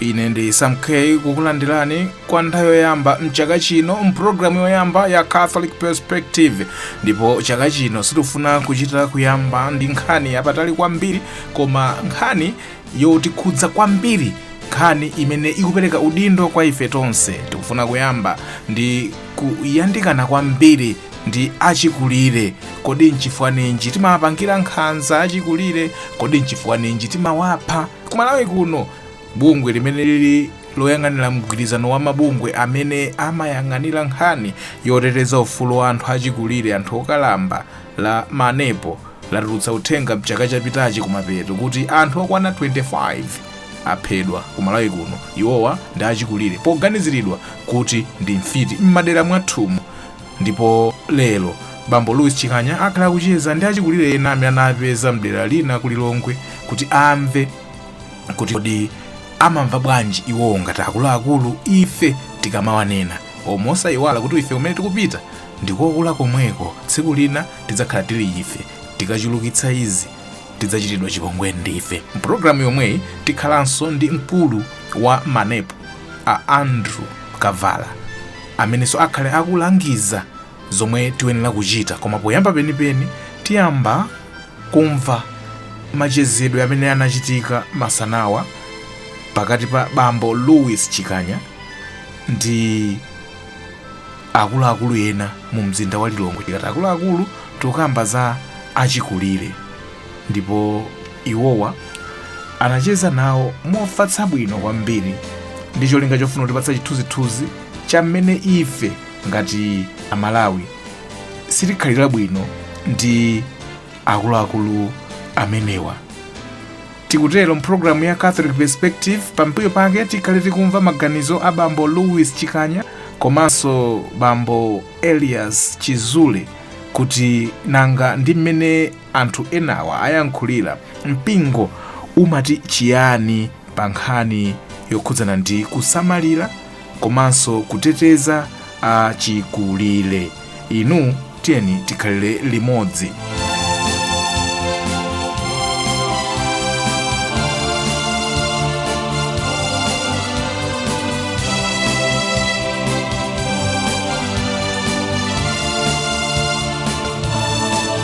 ine ndi sam k kukulandirani kwa nthawi yoyamba mchaka chino mpulogalamu yoyamba ya catholic perspective ndipo chaka chino sitikufuna kuchita kuyamba ndi nkhani yapatali kwambiri koma nkhani yotikhudza kwambiri nkhani imene ikupereka udindo kwa ife tonse tikufuna kuyamba ndi kuyandikana kwambiri ndi achikulire kodi nchifukwa ninji timawapangira nkhanza achikulire kodi nchifukwa ninji timawapha Ku Malawi kuno, bungwe limene lili loyang'anira mgwirizano wa mabungwe amene amayang'anira nkhani yoteteza ufulu wa anthu achikulire, anthu okalamba la Manepo latulutsa uthenga mchaka chapitachi kumapeto kuti anthu okwana 25 aphedwa ku Malawi kuno. Iwowa ndi achikulire poganiziridwa kuti ndi mfiti m'madera mwathumu. Ndipo lero, bambo Louis Chikanya akhale akucheza ndi achikulire ena amene anawapeza mdera lina ku Lilongwe kuti amve kuti kodi amamva bwanji iwowo ngati akuluakulu ife tikamawanena o mosayiwala kuti ife kumene tikupita ndikokula komweko tsiku lina tidzakhala tili ife tikachulukitsa izi tidzachitidwa chipongwe ndife mpulogalamu yomweyi tikhalanso ndi mkulu wa manepo a andrew kavala amenenso akhale akulangiza zomwe tiyenera kuchita. Koma poyamba penipeni tiyamba kumva machezedwe amene anachitika masanawa pakati pa bambo Louis Chikanya ndi akuluakulu ena mu mzinda wa Lilongwe. Tikati akuluakulu tikamba za achikulire. ndipo iwowa anacheza nawo mofatsa bwino kwambiri ndi cholinga chofuna kutipatsa chithunzithunzi cha mmene ife ngati amalawi sitikhalira bwino ndi akuluakulu amenewa tikutero mpulogalamu ya catholic perspective pambuyo pake tikhale tikumva maganizo a bambo louis chikanya komanso bambo elias chizule kuti nanga ndi mmene anthu enawa ayankhulira, mpingo umati chiyani pa nkhani yokhudzana ndi kusamalira komanso kuteteza achikulire? Inu tiyeni tikhalire limodzi.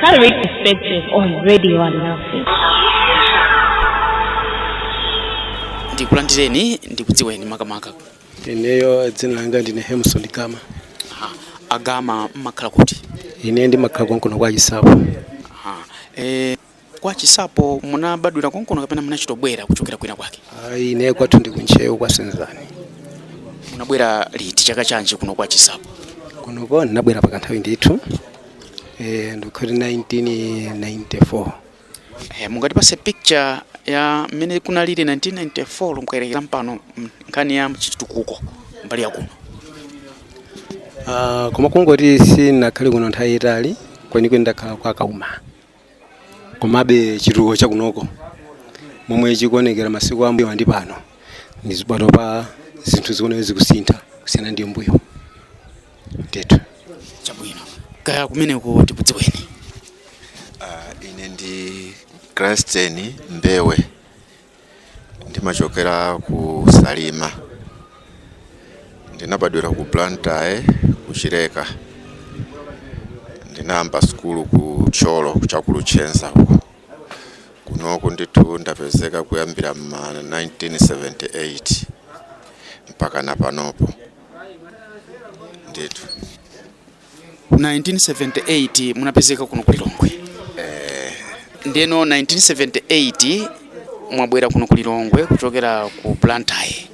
Catholic Perspective on Radio Alinafe. ndikulandireni ndikudziweni makamaka ineyo dzina langa ndine hemson gama Aha. a gama mumakhala kuti ine ndimakhala konkuno kwa chisapo Aha. Eh, Kwa Chisapo munabadwira konkuno kapena munachitobwera kuchokera kwina kwake? Ayi, ine kwathu ndi ku Ntcheu kwa Senzani. Munabwera liti chaka chanji kuno kwa Chisapo? Kunoko ndinabwera pa kanthawi ndithu eh, ndikuti 1994 Eh, mungatipatse picture ya mmene kunalili 1994 lo mukayerekeza mpano mm, nkhani ya chitukuko mbali ya kuno. Ah, koma kungoti sindinakhale kuno nthawi yaitali kwenikweni ndakhala kwa Kauma Komabe, chitukuko cha kunoko, momwe chikuonekera masiku a m'mbuyowa ndi pano, ndi panopa zinthu zikuoneka kuti zikusintha kusiyana ndi m'mbuyo ndithu. Chabwino. Kaya kumeneko tikudziweni. Ine ndi Gransten Mbewe. ndimachokera ku Salima ndinabadwira ku Blantyre ku Chileka ndinayamba sukulu ku Thyolo cha ku Luchenza uko kunoku ndithu ndapezeka kuyambira ma 1978 mpaka na panopo ndithu 1978 munapezeka kuno ku Lilongwe. Eh. Ndeno 1978 mwabwera kuno ku Lilongwe kuchokera ku Blantyre.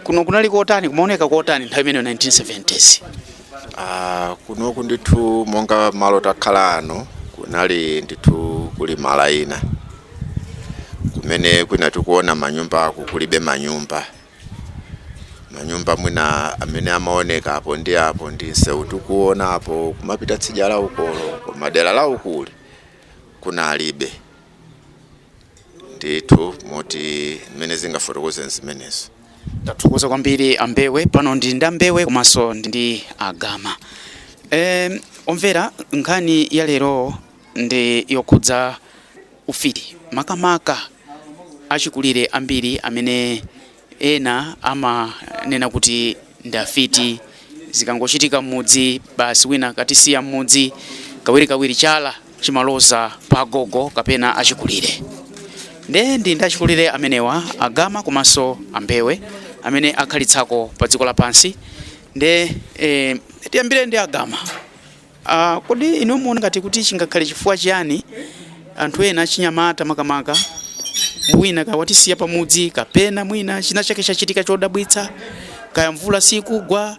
Kuno kunali kotani kumaoneka kotani nthawi imeneyo 1970s? Ah, kunoku ndithu monga malo takhala ano, kunali ndithu kuli malo ena kumene kwina tikuona manyumbaku kulibe manyumba manyumba mwina amene amaoneka apo ndi apo ndi msewu tikuona apo kumapita tsidya la ukolo, koma dera la ukuli kunalibe ndithu moti zimene ndingafotokoze ndi zimenezo tathokoza kwambiri a Mbewe pano ndili ndi a Mbewe komanso ndi a Gama e, omvera nkhani ya lero ndi yokhudza ufiti, makamaka achikulire ambiri amene ena amanena kuti ndi afiti. Zikangochitika m'mudzi, basi wina akatisiya m'mudzi, kawirikawiri chala chimaloza pa agogo kapena achikulire. Ndiye ndili ndi achikulire amenewa, a Gama komanso a Mbewe, amene akhalitsako padziko lapansi. Ndiye tiyambire ndi a Gama. A, kodi inu mumaona ngati kuti chingakhale chifukwa chiyani anthu ena achinyamata makamaka mwina kaya watisiya pamudzi kapena mwina china chake chachitika chodabwitsa kaya mvula sikugwa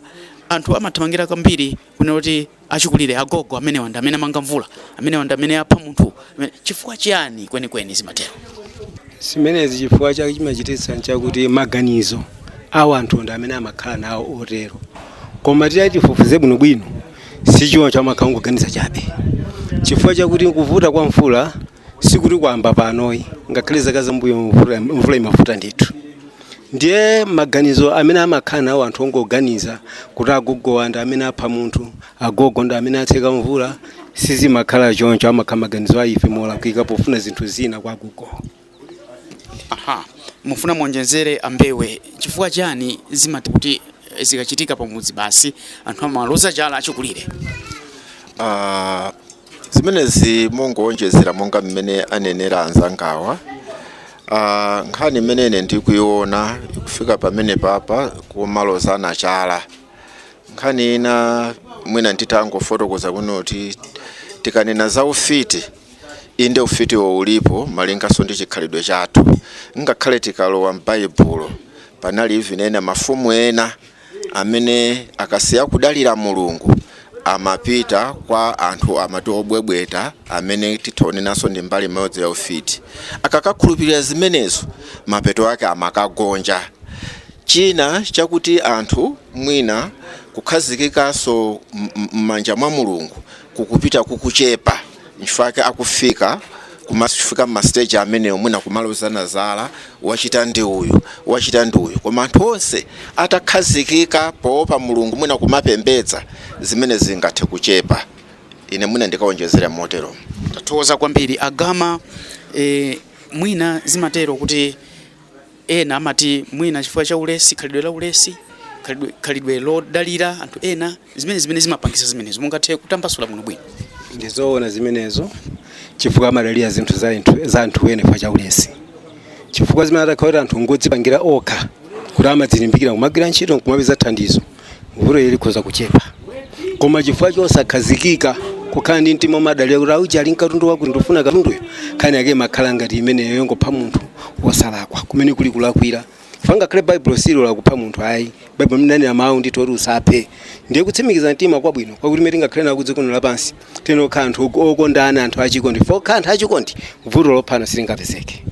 anthu amathamangira kwambiri kunena kuti achikulire agogo amenewa ndi amene amanga mvula amenewa ndi amene apha munthu amene- chifukwa chiyani kwenikweni zimatero zimenezi chifukwa chake chimachititsa nchakuti maganizo awo anthu ndi amene amakhala nawo otero koma titati tifufuze bwinobwino Sichoncho, amakhala ongoganiza chabe. Chifukwa chakuti kuvuta kwa mvula sikuti kwayamba panoyi. Ngakhale zaka zambuyomu mvula, mvula imavuta ndithu. Ndiye maganizo amene amakhala nawo anthu ongoganiza kuti agogowa ndi amene apha munthu, agogo ndi amene atseka mvula, sizimakhala choncho. Amakhala maganizo a ife molakwika pofuna zinthu zina kwa agogowo. aha mufuna muonjezere ambewe chifukwa chani zimati kuti eh, zikachitika pamudzi basi anthu amaloza chala achikulire Ah, zimenezi mungowonjezera monga mmene anenera anzangawa Ah, nkhani imene ine ndikuiona ikufika pamene papa kumaloza chala nkhani ina mwina nditangofotokoza kunoko kuti tikanena za ufiti Inde, ufiti ulipo malinganso ndi chikhalidwe chathu. Ngakhale tikalowa m'Baibulo, panali even ena mafumu ena amene akasiya kudalira Mulungu amapita kwa anthu amati obwebweta amene titha kunenanso ndi mbali imodzi ya ufiti. Akakakhulupirira zimenezo, mapeto ake amakagonja. China chakuti anthu mwina kukhazikikanso m'manja mwa Mulungu kukupita kukuchepa nchifukwa chake akufika kumafika mmasteji amenewo mwina kumalozana zala wachita ndi uyu wachita ndi uyu koma anthu onse atakhazikika poopa mulungu mwina kumapembedza zimenezi zingathe kuchepa ine mwina ndikawonjezera motero tathokoza kwambiri a Gama e, mwina zimatero kuti Ena amati mwina chifukwa cha ulesi, khalidwe la ulesi, khalidwe, khalidwe lodalira anthu ena, zimene zimene zimapangitsa zimenezo. Mungathe kutambasula bwino bwino. ndi zoona zimenezo chifukwa amadalira zinthu za anthu za anthu ena chifukwa cha ulesi chifukwa zimene atakhala kuti anthu ngodzipangira okha kuti amadzilimbikira kumagwira ntchito nkumapeza thandizo vutoli likhoza kuchepa koma chifukwa chosakhazikika kukhala ndi mtima womadalira kuti auja ali ndi katundu wakuti ndifuna katunduyo nkhani yake imakhala ngati imeneyo yongopha munthu wosalakwa kumene kuli kulakwira chifukwa ngakhale baibulo silola kupha munthu ayi baibulo linanena mawu ndithu oti usaphe ndiye kutsimikiza mtima kwabwino kwakuti mene tingakhale nawo kudziko lino lapansi tizikhala anthu ok- okondana anthu achikondi tikakhala anthu achikondi vuto lophana silingapezeke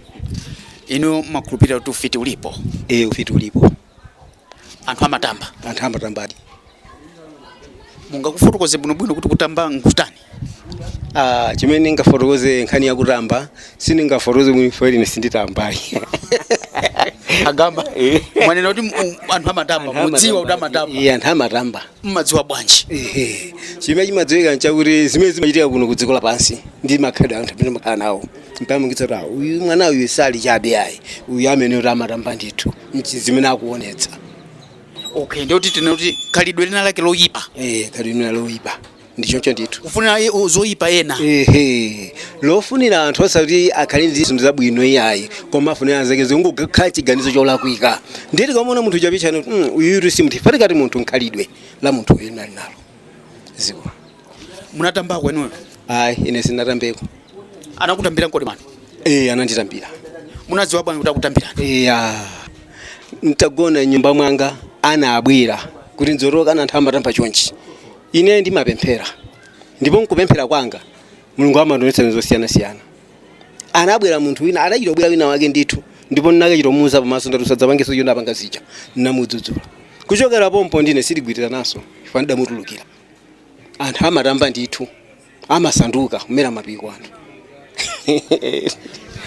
inu mumakhulupirira kuti ufiti ulipo e ufiti ulipo anthu amatamba anthu amatambadi mungatifotokozere bwinobwino kuti kutamba nkutani Ah, chimene ndingafotokoze nkhani ya kutamba sindingafotokoze chifukwa ine sinditambayi a Gama mwanena kuti mu- anthu amatamba mudziwa kuti amatamba Eya, anthu amatamba mmadziwa bwanji Ehe. chimene chimadziwika nchakuti zimene zimachitika kuno ku dziko lapansi ndi makhalidwe anthu amene amakhala nawo zimapangitsa kuti "Ah, uyu mwana uyu sali chabe ayi uyu amene kuti amatamba ndithu nchi zimene akuonetsa okay ndikuti tinoti khalidwe lina lake loyipa eh khalidwe lina loyipa ndi choncho ndithu kufunira i- u- zoyipa ena ehe lofunira anthu osati akhale ndi zinthu zabwino iyayi koma afunira anzake zizingokhala chiganizo cholakwika ndiye tikamuona munthu chapichani uyutu si munthu patikati munthu nkhalidwe la munthu uyu nali nalo ziwa munatambako inuyo ayi ine sinatambeko anakutambiraniko amayi ee ananditambira munadziwa bwanji kuti akutambirani iya ntagona m'nyumba mwanga anabwera kuti nzoroka ana anthu amatamba chonchi ine ndimapemphera ndipo nkupemphera kwanga mulungu amandonetsa zinthu zosiyanasiyana anabwera munthu wina adachita kubwera wina wake ndithu ndipo ndinakachita kumuuza pamaso ndati usadzapangeso zimene unapanga zija ndinamudzudzula kuchokera pompo ndine sitigwirizananso chifukwa ndidamutulukira anthu amatamba ndithu amasanduka kumera mapiko anthu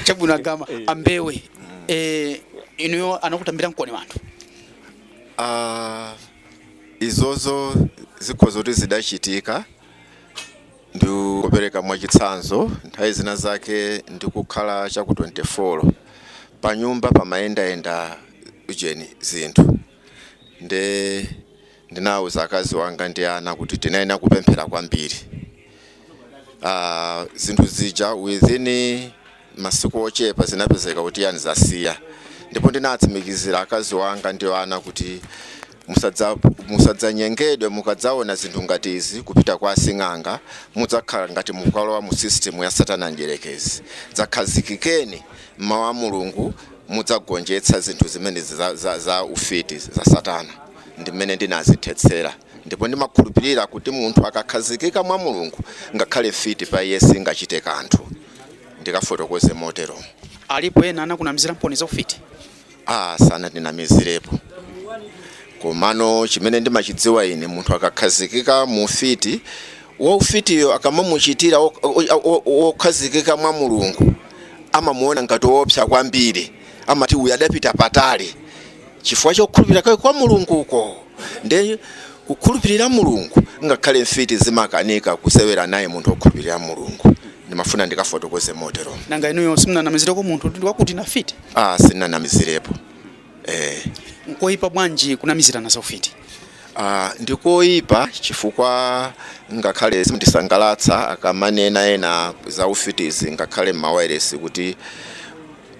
chabwino agama ambewe eh, inuyo anakutambiramkoni anthu Ah, izozo zikhoza kutheka zidachitika ndipereka mwachitsanzo nthawi zina zake ndikukhala chaku 24 pa nyumba pamayendayenda ujeni zinthu nde Ndinauza akazi wanga ndi ana kuti tinayenera kupemphera kwambiri uh, zinthu zija within masiku ochepa zinapezeka kuti yani zasiya ndipo ndinatsimikizira akazi wanga ndi ana kuti musadzanyengedwe mukadzaona zinthu ngati izi kupita kwa asing'anga mudzakhala ngati mukalowa mu system ya satana mdyerekezi dzakhazikikeni m'mawu a mulungu mudzagonjetsa zinthu zimene za, za, za ufiti za satana ndi mmene ndinazithetsera ndipo ndimakhulupirira kuti munthu akakhazikika mwa Mulungu, ngakhale mfiti pa iye singachite kanthu. Ndikafotokoze motero. Alipo ena anakunamizilamponi za ufiti? Ah, sanandinamizirepo. Komano chimene ndimachidziwa ine, munthu akakhazikika mu ufiti, waufitiyo akamamuchitira wo- wo- wo- wokhazikika mwa Mulungu amamuona ngati woopsa kwambiri, amati uyu adapita patali. chifukwa chokhulupirira kwake kwa mulungu uko nde kukhulupirira mulungu ngakhale mfiti zimakanika kusewera naye munthu wokhulupirira mulungu ndimafuna ndikafotokoze motero nanga inuyo simunanamizireko munthu ndi wakuti ndi mfiti ah sinanamizirepo eh nkoyipa bwanji kunamizirana za ufiti Ah, ndikoyipa chifukwa ngakhale zimandisangalatsa akamanena ena za ufitizi ngakhale m'mawayiresi kuti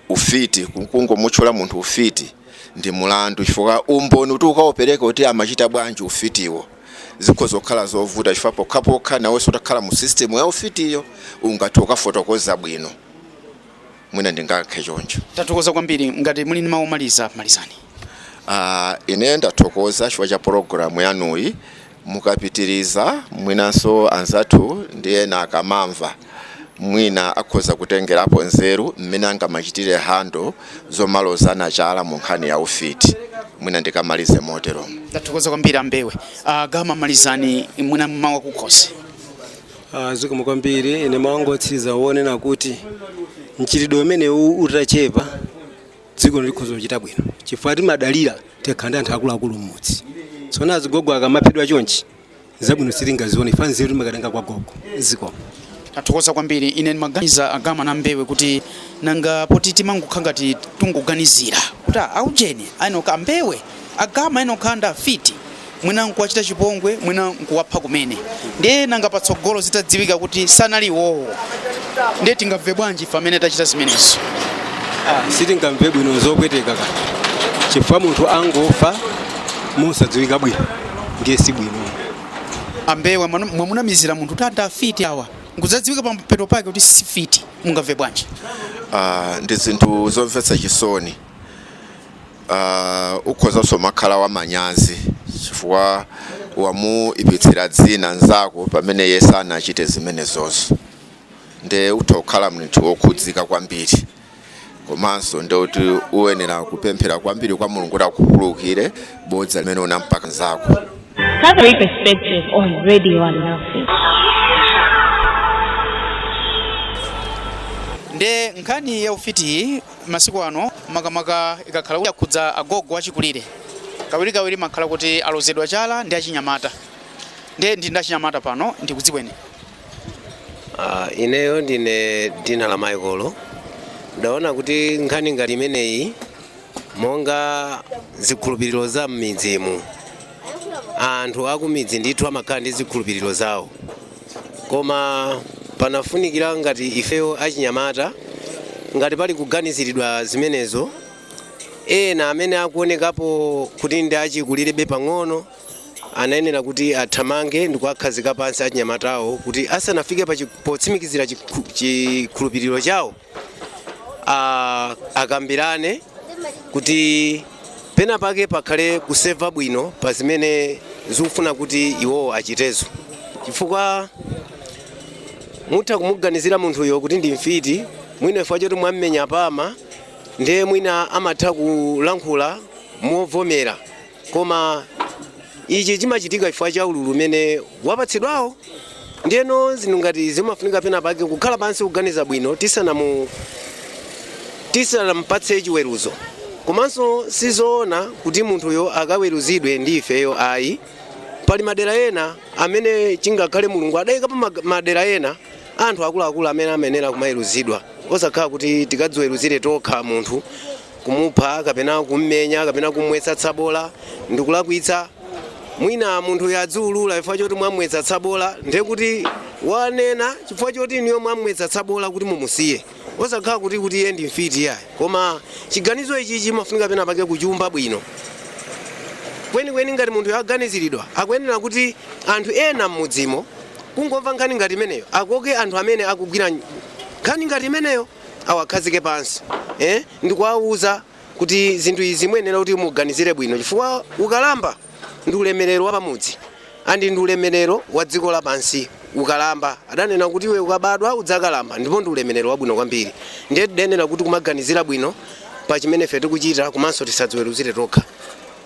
ufiti kungomutchula munthu ufiti ndi mulandu chifukwa umboni kuti ukaupereke kuti amachita bwanji ufitiwo zikhoza kukhala zovuta chifukwa pokhapokha nawenso utakhala mu system ya ufitiyo ungathe kukafotokoza bwino mwina ndingayankhe choncho tathokoza kwambiri ngati muli ndi mawu omaliza malizani Ah, ine ndathokoza chifukwa cha pologalamu yanuyi Mukapitiriza mwinanso anzathu ndi ena akamamva mwina akhoza kutengerapo nzeru mmene angamachitire handle zomalozana chala mu nkhani ya ufiti. Mwina ndingamalize moteromo. Ndathokoza kwambiri a Mbewe. A Gama malizani mwina mawu akukhosi. Ah, Zikomo kwambiri ine mawu anga otsiriza wonena kuti mchitidwe umenewu utachepa dziko likhoza kuchita bwino chifukwa timadalira tikakhala ndi anthu akuluakulu mmudzi tsopano azigogo akamaphedwa chonchi zabwino sitingazione chifukwa nzeru timakatenga kwa gogo zikomo tathokoza kwambiri ine ndimaganiza a Gama na Mbewe kuti nanga poti timangokhala ngati tikungoganizira kuti ah, aujeni ayenera kukhala a Mbewe a Gama ayenera kukhala ndi afiti mwina nkuwachita chipongwe mwina nkuwapha kumene ndiye nanga patsogolo zitadziwika kuti sanali iwowo ndiye tingamve bwanji ife amene tachita zimenezo sitingamve bwino zopweteka ka chifukwa munthu angofa mosadziwika bwino ndiye si bwino a Mbewe mwanu- mwamunamizira munthu kuti ndi afiti awa nkudzadziwika pamapeto pake kuti si mfiti mungamve bwanji Ah, ndi zinthu zomvetsa chisoni uh, ukhozanso kumakhala wa manyazi chifukwa wamuipitsira dzina nzako pamene iye sanachite zimenezozo nde utha kukhala munthu wokhudzika kwambiri komanso nde kuti uyenera kupemphera kwambiri kwa mulungu kuti akukhululukire bodza limene unampaka nzako Catholic perspective on Radio Alinafe. nde nkhani ya ufitiyi masiku ano makamaka ikakhala kuti yakhudza agogo achikulire kawirikawiri amakhala kuti alozedwa chala ndi achinyamata ndiye ndili ndi achinyamata pano ndikudziweni Ah, ineyo ndine Dinala Maikolo ndaona kuti nkhani ngati imeneyi monga zikhulupiriro za m'midzimu anthu akumidzi ndithu amakhala ndi zikhulupiriro zawo koma panafunikira ngati ifeyo achinyamata ngati pali kuganiziridwa zimenezo ena amene akuonekapo kuti ndi achikulirebe pang'ono anayenera kuti athamange ndi kuwakhazika pansi achinyamatawo kuti asanafike pa chi- potsimikizira chikhu- chikhulupiriro chawo a- akambirane kuti pena pake pakhale kumva bwino pa zimene zikufuna kuti iwowo achitezo chifukwa mutha kumuganizira munthuyo kuti ndi mfiti mwina chifukwa choti mwammenya pama ndiye mwina amatha kulankhula movomera koma ichi chimachitika chifukwa cha ululu umene wapatsidwawo ndiyeno zinthu ngati zimafunika pena pake kukhala pansi kuganiza bwino tisanamu tisanampatse chiweruzo komanso sizoona kuti munthuyo akaweruzidwe ndi ifeyo ayi pali madera ena amene chingakhale mulungu adayika pa mag- madera ena anthu akuluakulu amene amayenera kumaweruzidwa osakhala kuti tikadziweruzire tokha munthu Kumupha kapena kum'menya kapena kum'mwetsa tsabola ndi kulakwitsa. Mwina munthu wadziulula chifukwa choti mwam'mwetsa tsabola, ndiye kuti wanena chifukwa choti inuyo mwam'mwetsa tsabola kuti mumusiye, osakhala kuti kuti iye ndi mfiti iyayi. Koma chiganizo ichichi chimafunika penapake kuchiumba bwino. Kwenikweni ngati munthuyo aganiziridwa, akuyenera kuti anthu ena m'mudzimo kungomva nkhani ngati imeneyo, akoke anthu amene akugwira nkhani ngati imeneyo. awakhazike pansi eh, ndikuwauza kuti zinthu izi muyenera kuti muganizire bwino chifukwa ukalamba ndi ulemerero wa pamudzi andi ndi ulemerero wa dziko lapansi ukalamba adanena kuti iwe ukabadwa udzakalamba ndipo ndi ulemerero wabwino kwambiri ndiye tiyenera kuti kumaganizira bwino pa chimene ife tikuchita komanso tisadziweruzire tokha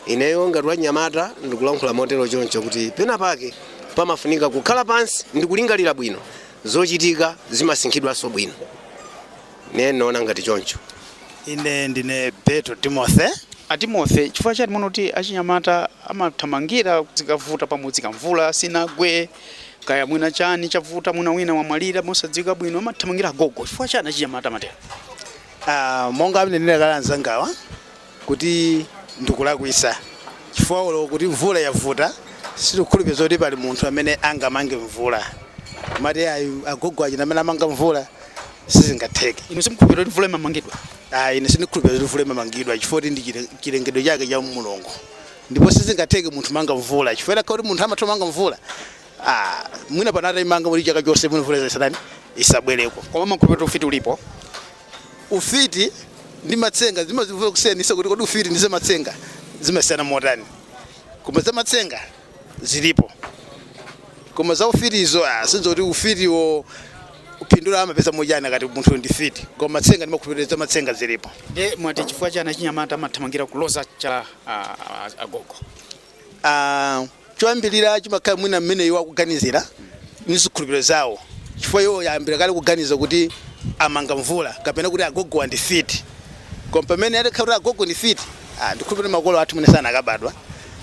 ineyo ngati wanyamata ndikulankhula motero choncho kuti pena pake pamafunika kukhala pansi ndikulingalira bwino zochitika zimasinkhidwanso bwino ne naona ngati choncho ine ndine beto timothy a timothy chifukwa chani mumaona kuti achinyamata amathamangira zikavuta pamudzi kaya mvula sinagwe kaya mwina chani chavuta mwina wina wamwalira mosadziwika bwino amathamangira agogo chifukwa chani achinyamata amatero Ah, monga anenera kale anzangawa kuti ndikulakwisa chifukwa olo kuti mvula yavuta sindikukhulupirira zoti pali munthu amene angamange mvula kumati ayi agogo aja amene amanga mvula sizingatheke inu simukhulupirira kuti mvula imamangidwa ayi ine sindikhulupirira zoti mvula imamangidwa chifukwa kuti ndi chile- chilengedwe chake cha mulungu ndipo sizingatheke munthu kumanga mvula chifukwa itakhala kuti munthu amatha kumanga mvula ah, mwina anatha kuimanga kuti chaka chonse mwina mvula isatanani isabwereko koma mumakhulupirira kuti ufiti ulipo Ufiti ndi matsenga zimavuta kusiyanisa kuti kodi ufiti ndi zamatsenga zimasiyana motani. Koma zamatsenga zilipo. Koma za ufitizo ah, sindidziwa kuti afitiwo phindu amapeza motani akati munthu ndi fiti. Koma matsenga ndimakhulupirira zamatsenga zilipo. Ndiye mwati chifukwa chani achinyamata amathamangira kuloza chala ah, ah, agogo? ah, choyambirira chimakhala mwina mmene iwo akuganizira ndi zikhulupiriro zawo chifukwa iwo ayambira kale kuganiza kuti amanga mvula kapena kuti agogowa ndi afiti koma pamene atakhala kuti agogo ndi fiti ah, ndikhulupirira makolo athu mwina sanakabadwa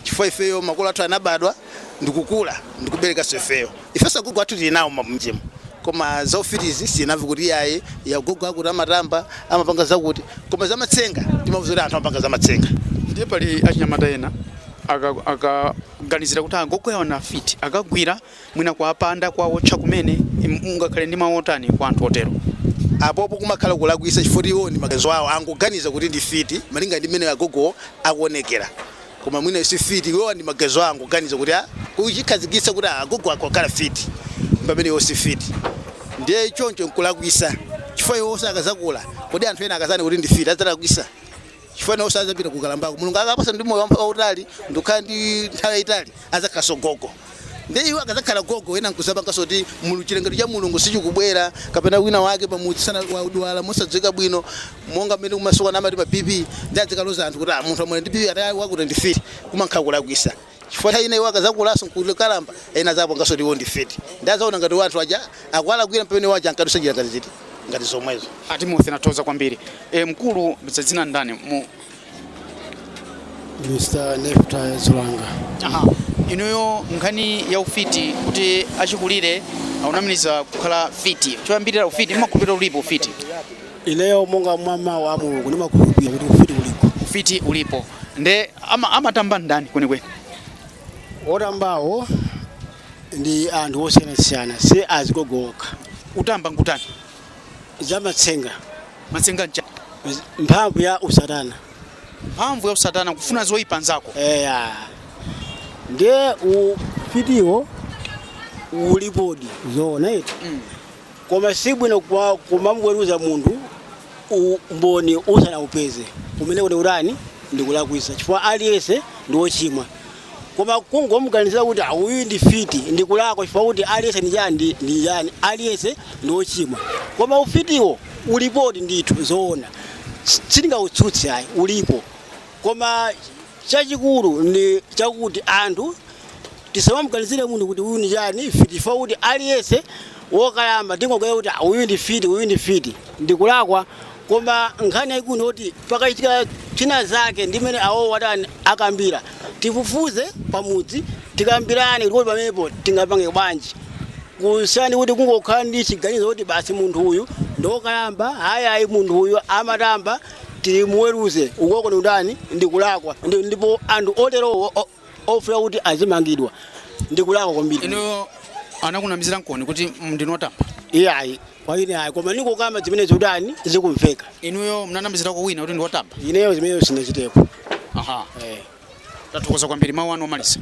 chifukwa ifeyo makolo athu anabadwa ndikukula ndikuberekanso ifeyo Ifenso agogo athu tili nawo m'mudzimu koma za ufitizi sitinamvepo kuti iyayi agogo akuti amatamba, amapanga zakuti. Koma zamatsenga timamva zoti anthu amapanga zamatsenga. Ndiye pali achinyamata ena akaganizira kuti agogo awo ndi afiti, akagwira mwina kuwapanda, kuwawotcha kumene, mungakhale ndi mawu otani kwa anthu otero? Apopo kumakhala kulakwitsa chifukwa choti iwowo ndi maganizo awo angoganiza kuti ndi afiti malinga ndi mmene agogowo akuonekera. koma mwina si fiti iwowa ndi maganizo awo angoganiza kuti a kuchikhazikitsa kuti agogo akho akhala fiti pamene iwo si fiti ndiye choncho nkulakwisa chifukwa iwoso akazakula kodi anthu ena akazanena kuti ndi fiti adzalakwisa chifukwa nawoso azapita kukalambako mulungu akawapasa ndi moyo wamphamvu wautali ndikukhala ndi nthawi yayitali adzakhalanso gogo. Ndiye iwo akadzakhala gogo, ena n'kudzapanganso kuti chilengedwe cha Mulungu sichikubwera, kapena wina wake pamudzi mwina wadwala mosadziwika bwino, monga mmene kumasikuano amati pa BP, ndiye adzikaloza anthu kuti ah, munthu wamwalira ndi BP ati awa akuti ndi fiti, kumakhala kulakwisa. Chifukwa nthawi ina iwo akadzakulanso n'kukalamba, ena adzapanganso kuti iwo ndi fiti. Ndiye adzaona ngati iwo anthu aja akuwalakwira pamene iwo aja ankadutsa njira ngati ziti, ngati zomwezo. A Timothy ndathokoza kwambiri. E, nkucheza dzina ndani mu Mr. Nefta Zulanga. Aha. Inuyo nkhani ya ufiti kuti achikulire akunamiziridwa kukhala fiti. Choyambirira ufiti mmakhulupirira ulipo ufiti. Ineyo monga mwa mawu a Mulungu ndimakhulupirira kuti ufiti ulipo. Ufiti ulipo. Nde ama amatamba ndani kwenikweni? Otambawo ndi anthu osiyanasiyana si azigogo okha. Kutamba nkutani? zamatsenga matsenga nchani mphamvu ya usatana mphamvu ya usatana kufuna zoyipa nzako eya ndiye ufitiwo ulipodi zoona eti koma si bwino kwa- kumamweruza munthu umboni usanaupeze umeneko ndi kutani ndikulakwisa chifukwa aliyense ndi wochimwa koma kungomuganizira kuti "Ah, uyu ndi fiti ndi kulakwa chifukwa kuti aliyense ndi chani ndi- ndi chani aliyense ndi ochimwa koma ufitiwo ulipodi ndithu zoona S- sindingautsutse ayi ulipo koma chachikulu ndi chakuti anthu tisamamuganizire munthu kuti uyu ndi chani fiti chifukwa kuti aliyense wokalamba tingoganizira kuti "Ah, uyu ndi fiti uyu ndi fiti ndikulakwa koma nkhani yayikulu ndiyoti pakachitika china zake ndi mmene awowo atani akambira tifufuze pamudzi tikambirane kuti kodi pamenepo tingapange bwanji kusiyana ndi kuti kungokhala ndi chiganizo kuti basi munthu uyu ndokalamba ayi ayi munthu uyu amatamba timuweruze ukoko ndi kutani ndikulakwa Ndi- ndipo anthu oterowo o- ofuna kuti azimangidwa ndikulakwa kwambiri inuyo anakunamizira nkoni kuti ndinu otamba iyayi kwaine ayi koma ndikukamba zimene zikutani zikumveka inuyo mnanamizirako wina kuti ndiwotamba ineyo zimeneyo sinachitepo aha eh. tathokoza kwambiri mawu anu omaliza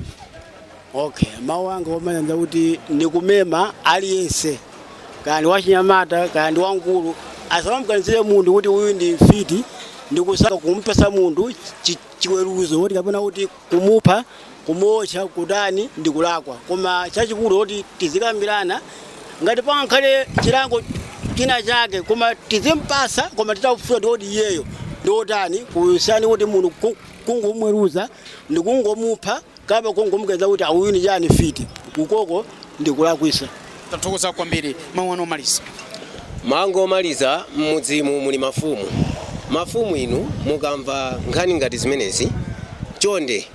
okay mawu anga omaliza kuti ndikumema aliyense kaya ndi wachinyamata kaya ndi wamkulu asamamuganizire munthu kuti uyu ndi mfiti ndikusaka kumupatsa munthu chi- chiweruzo choti kapena kuti kumupha kumuotcha kutani ndi kulakwa koma chachikulu kuti tizikambirana ngati pangakhale chilango china chake koma tizimpasa koma titafufuza kuti iyeyo ndiwotani kusiyana kuti munthu ku- kungomweruza ndikungomupha Kaya kungomuuza kuti uyu ndi chani mfiti ukoko ndikulakwisa. Tathokoza kwambiri mawu anu omaliza. Mawu anga omaliza mmudzimu muli mafumu. Mafumu inu mukamva nkhani ngati zimenezi chonde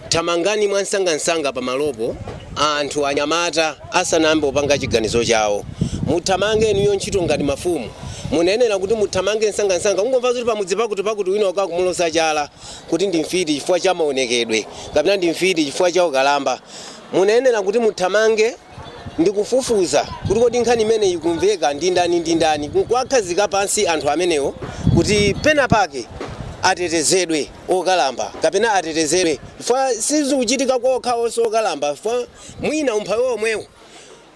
thamangani mwamsangamsanga pamalopo anthu anyamata asanayambe kupanga chiganizo chawo. Muthamange inuyo ntchito ngati mafumu mumayenera kuti muthamange msangamsanga kungomva zoti pamudzi pakuti pakuti wina wake akumuloza chala kuti ndi mfiti chifukwa cha maonekedwe kapena ndi mfiti chifukwa cha ukalamba mumayenera kuti muthamange ndi kufufuza kuti kodi nkhani imene ikumveka ndi ndani ndi ndani nkuwakhazika pansi anthu amenewo kuti pena pake atetezedwe okalamba kapena atetezedwe chifukwa sizikuchitika kwa okhaonso okalamba chifukwa mwina umphawi omwewo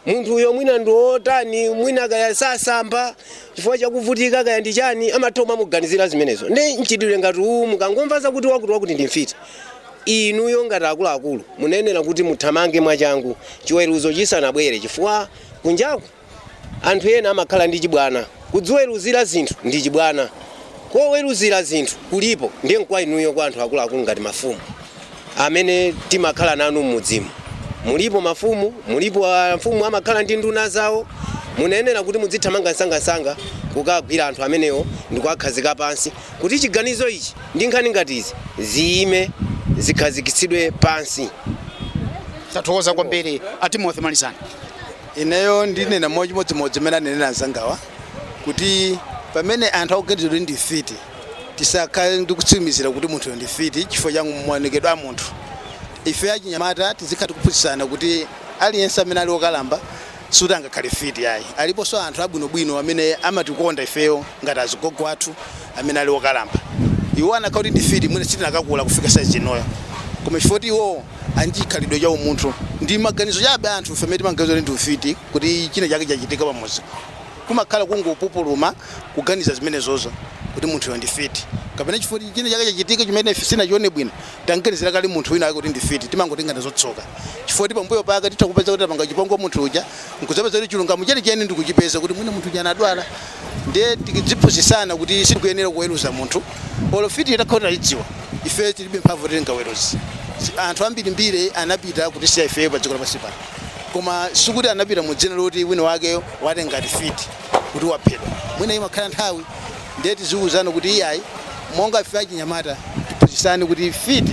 Munthuyo mwina ndi wotani, mwina kaya sasamba chifukwa chakuvutika kaya ndi chani, amatha kumamuganizira zimenezo. Ndi mchitidwe ngati uwu mukangomva zakuti wakuti wakuti ndi mfiti, inuyo ngati akuluakulu mumayenera kuti muthamange mwachangu chiweruzo chisanabwere chifukwa kunjaku anthu ena amakhala ndi chibwana. Kudziweruzira zinthu ndi chibwana, koweruzira zinthu kulipo ndiye nkwa inuyo kwa anthu akuluakulu ngati mafumu. amene timakhala nanu m'mudzimu. Mulipo mafumu, mulipo amfumu amakhala ndi nduna zawo. Mumayenera kuti mudzithamanga msangamsanga kukagwira anthu amenewo ndikuwakhazika pansi kuti chiganizo ichi ndi nkhani ngati izi ziyime zikhazikitsidwe pansi. Tathokoza kwambiri. A Timothy malizani. Ineyo ndinena mochimodzimodzi mmene anenera anzangawa kuti pamene anthu akuganiziridwa kuti ndi mfiti. Tisakhale ndi kutsimizira kuti munthuyo ndi mfiti chifukwa cha maonekedwe a munthu. Ife achinyamata tizikhala tikuphunzitsana kuti aliyense amene ali okalamba sikuti angakhale mfiti ayi. Aliponso anthu abwinobwino amene amatikonda ifeyo ngati azigogo athu amene ali okalamba. Iwo anakakhala kuti ndi mfiti mwina sitinakakula kufika size inoyo. Koma chifukwa choti iwowo ali ndi chikhalidwe cha umunthu. Ndi maganizo chabe a anthufe amene timaganiza kuti ndi mfiti kuti china chake chachitika pamudzi. Kumakhala kungopupuluma kuganiza zimenezozo kuti munthuyo ndi fiti kapena chifukwa china chake chachitika chimene ife sinachione bwino, tamganizira kale munthu wina wake kuti ndi fiti, timangotenga nazo tsoka chifukwa choti pambuyo pake titha kupeza kuti tapanga chipongwe munthu uja nkudzapeza kuti chilungamo chenicheni ndi kuchipeza kuti mwina munthu uja anadwala. Ndiye tiziphunzitsana kuti sitikuyenera kuweruza munthu olo fitiyo itakhala kuti taidziwa, ifeyo tilibe mphamvu yoti tingaweruze. Anthu ambirimbiri anapita kutisiya ifeyo padziko lapansi pano koma sikuti anapita mu dzina loti wina wake. wati ngati fiti kuti waphedwa mwina imakhala nthawi ndiye tiziwuzana kuti iyayi monga ife achinyamata tiphunzitsane kuti fiti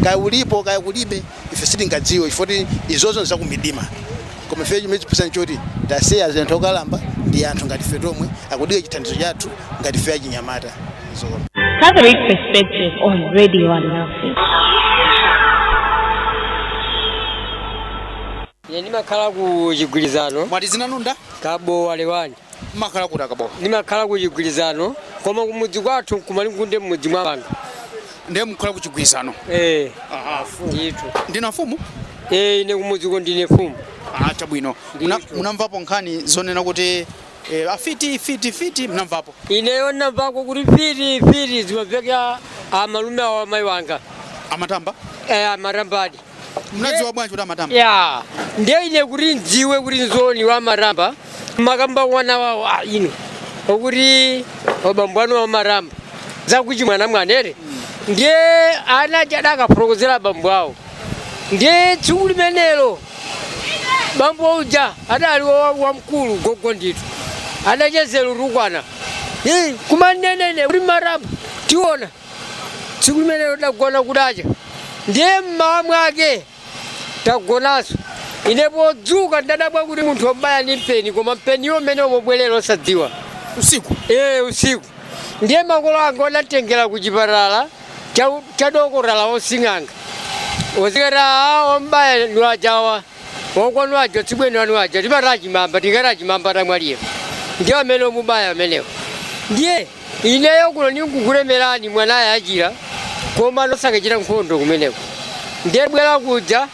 kaya ulipo kaya kulibe ife sitingadziwe chifoti izozo nzakumidima koma ife chimene tiziphunzitsana choti tazisiya zinthu okalamba ndi anthu ngati ife tomwe akudikira chithandizo chathu ngati ife achinyamata zokoma Catholic Perspective on Radio Alinafe. Ine ndimakhala ku Chigwirizano. Mwati dzina lanu nda? Kabowa Lewani. Mumakhala kuti a Kabowa? Ndimakhala ku Chigwirizano koma kumudzi kwathu nku Malingunde mmudzi mwa anthu. Ndiye mukhala ku Chigwirizano? Eh. Aha. Ndithu. Ndinu amfumu? Eh, ine kumudziko ndine mfumu. Ah, chabwino. Muna, munamvapo nkhani zonena kuti eh, afiti fiti fiti mnamvapo? Ineyo ndinamvako kuti fiti fiti zimamveka amalume awo a mayi wanga. Amatamba? Eh, amatambadi. Mnadziwa bwanji kuti amatamba? ya ndiye ine kuti ndziwe kuti nzoona amatamba amakamba wana wawo a ino akuti abambo anu amatamba zakuchi mwana mwanere ndiye ana aja adakafotokozera abambo awo ndiye tsiku limenelo bambo uja adali wa- wamkulu gogo ndithu adachezera kutukwana kumanena kuti mmatamba tiona Tsiku limenelo tidagona kudacha, ndiye mmawa mwake tagonanso. Ine podzuka ndadabwa kuti munthu wandibaya ndi mpeni, koma mpeniwo mmene umabwerera osadziwa. Usiku? Ee, usiku. Ndiye makolo anga adanditengera ku chipatala cha, cha dokotala wosing'anga osikati aa wambaya ndi ajawa akwanu aja tsibweni wanu aja timati achimamba tingati achimamba atamwalira ndiye amene omubaya amenewo ndiye Ineyo kuno ndingokutemerani mwanayu achira koma musakachite nkhondo kumeneko ndiye bwera kuja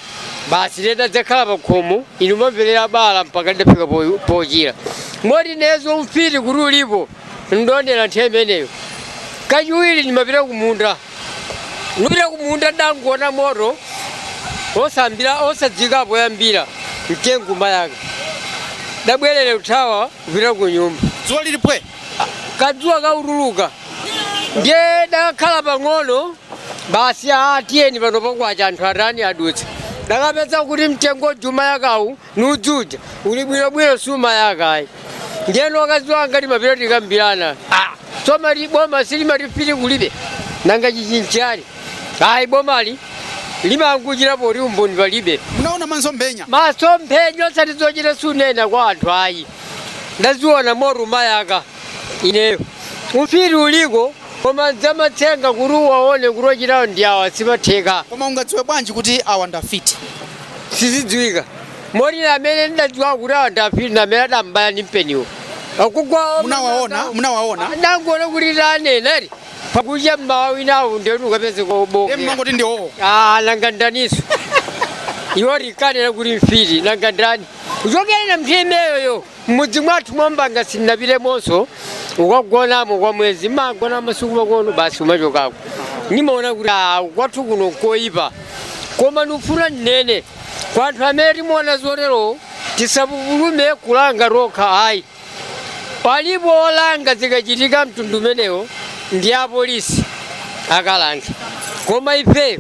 basi ndiye ndadzakhala pa khomo ine kumamverera bala mpaka ndidafika po- pochira moti ineyo ufiti kuti ulipo ndaonera nthawi imeneyo kachiwiri ndimapita kumunda ndipita kumunda ndangoona moto osadziwika poyambira mtengo kumayaka ndabwerera kuthawa kupita ku nyumba dzuwa lili pwe kadzuwa kautuluka ndiye dakakhala pang'ono basi a tiyeni pano pakwacha anthu atani adutsa dakapeza kuti mtengo uja umayakawu ni udzu uja uli bwinobwino siumayaka ayi ndiye ni wakazi wanga timapita tikambirana Ah, so mati boma silimati mfiti kulibe nanga chichi nchani ayi bomali limangochita poti umboni palibe munaona masomphenya masomphenya osati zochita kunena kwa anthu ayi ndaziona moto umayaka ineyo ufiti uliko koma nzamatsenga kuti uwaone kuti ochitawo ndi awa sizimatheka koma ungadziwe bwanji kuti awa ndafiti sizidziwika moti namene ndidadziwa kuti awa ndafiti namene adambaya ndi mpeniwo akugwa munawaona munawaona ndangoona kuti taneneri pakucha mmawa winawo ndiyoti ukapeze kobooka amangoti ndiwowo Ah, nanga ndaninso iwo tikanena kuti mfiti nanga ndani kuchokera nthawi imeneyoyo mmudzi mwathu mwambanga sindinapitemonso kukagonamo kwa mwezi mmagona masiku pang'ono basi umachokako nimaona kuti ah, kwathu kuno koyipa koma ndikufuna ndinene kwa anthu amene timaona zotero tisapupulume kulanga tokha ayi Palipo olanga zikachitika mtundu umenewo ndi apolisi akalanga, koma ifeyo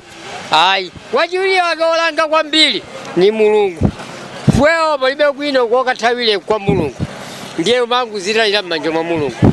ayi. Wachiwiri wake wolanga kwambiri ni Mulungu. Ifeyo palibe kwina kokathawira kwa Mulungu, ndiye umangozitayira m'manja mwa Mulungu.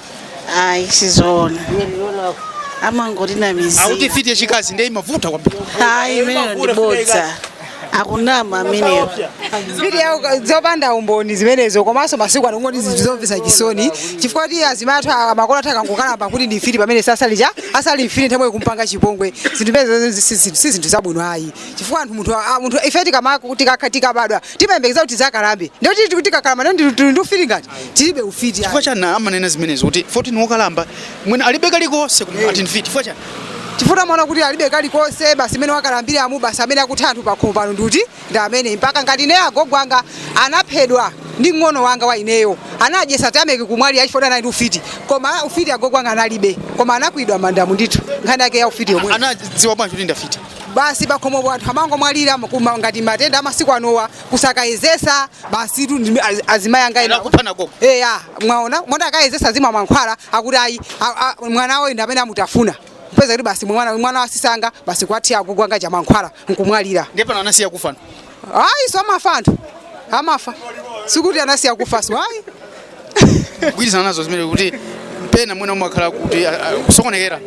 ayi sizoona amangoti na akuti mizimu mfiti yachikazi ndiye imavuta kwambiri ayi imeneyo ndi bodza akunama ameneyo Fiti ya zopanda umboni zimenezo komanso masiku ano ngoti zinthu zomvesa chisoni chifukwa kuti azimayi athu amakolo athu akangokalamba akuti ndi mfiti pamene sasali cha asali mfiti nthawi kumpanga chipongwe zinthu izi si zinthu zabwino ayi chifukwa anthu munthu a- munthu ife tikama- tikakha- tikabadwa timayembekeza kuti tizakalambe ndiye tili tikuti tikakalamba ndiye ndili- tili ndi ufiti ngati tilibe ufiti chifukwa ayi. chani amanena zimenezo kuti poti ni wokalamba mwina alibe kalikonse koma ati ndi mfiti chifukwa chani chifukwa amaona kuti alibe kalikonse basi mmene wakalambiramu basi amene akutha anthu pakhomo pano ndi uti ndi amene mpaka ngati ineyo agogo anga anaphedwa ndi mng'ono wanga wa ineyo anawadyesa tameki kumwalira chifukwa anali ndi ufiti koma ufiti agogo anga analibe koma anakwiriridwa mmandamu ndithu nkhani yake ya ufiti yomwe anadziwa bwanji kuti ndafiti basi pakhomopo anthu amangomwalira koma ngati matenda amasiku anowa kusakayezesa basi tu ndime- az- azimayi anga ena Anakuphana koko. eya mwaona mwana akayezesa azimwa mankhwala akuti ayi a- a- mwana wawo ndi amene amutafuna kupeza kuti basi mwana mwana wa asisi anga basi kuwathira agogo anga chamankhwala nkumwalira Ndiye pano anasiya kufana. ayi so amafa anthu amafa sikuti anasiya kufa so ayi kugwirizana nazo zimene kuti pena mwina umakhala kuti a- a- kusokonekera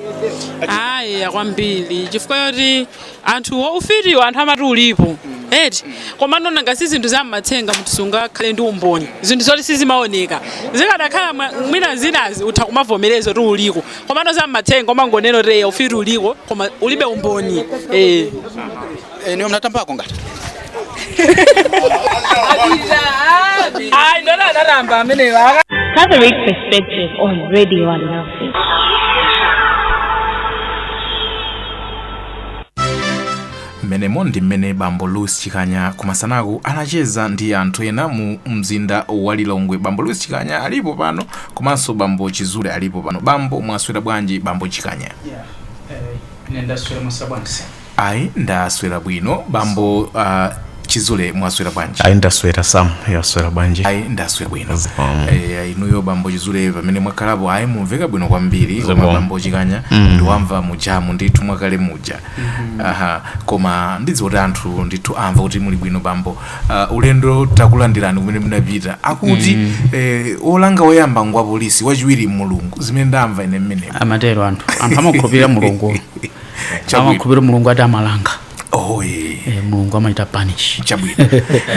ayi akwambiri chifukwa yoti anthu ufitiwo anthu amati ulipo eti komano ngati zinthu zamatsenga munthu sungakhale ndi umboni zinthu zoti sizimaoneka zikadakhala mwa- mwina zinazi utha kumavomereza kuti uliko komano zamatsenga umangonena kuti eya ufiti uliko koma ulibe umboni eh. Eh, inuyo munatambako ngati? Ai, ndona anaramba ameneyo. Aka- Catholic Perspective on Radio Alinafe. mmenemo ndi mmene bambo louis chikanya kumasanako anacheza ndi anthu ena mu mzinda wa lilongwe bambo louis chikanya alipo pano komanso bambo chizule alipo pano bambo mwaswera bwanji bambo chikanya ine ndaswera mwaswera bwanji Ayi ndaswera bwino bambo uh, chizule mwaswera bwanji ayi ndaswera sam mwaswera bwanji ayi ndaswera bwino Zikomo. Eh, inuyo bambo chizule pamene mwakhalapo ayi mumveka bwino kwambiri koma Zikomo. bambo chikanya ndiwamva mujamu ndithu mwakale muja aha koma ndidziwa kuti anthu ndithu amva kuti muli bwino bambo Ah, ulendo takulandirani kumene munapita akuti eh, olanga woyamba ndi wa polisi wachiwiri mulungu zimene ndamva ine mmeneko amatero anthu anthu amakhulupirira mulungu Chabwino. amakhulupirira mulungu ati amalanga oh, eh. eh, mulungu amachita punish chabwino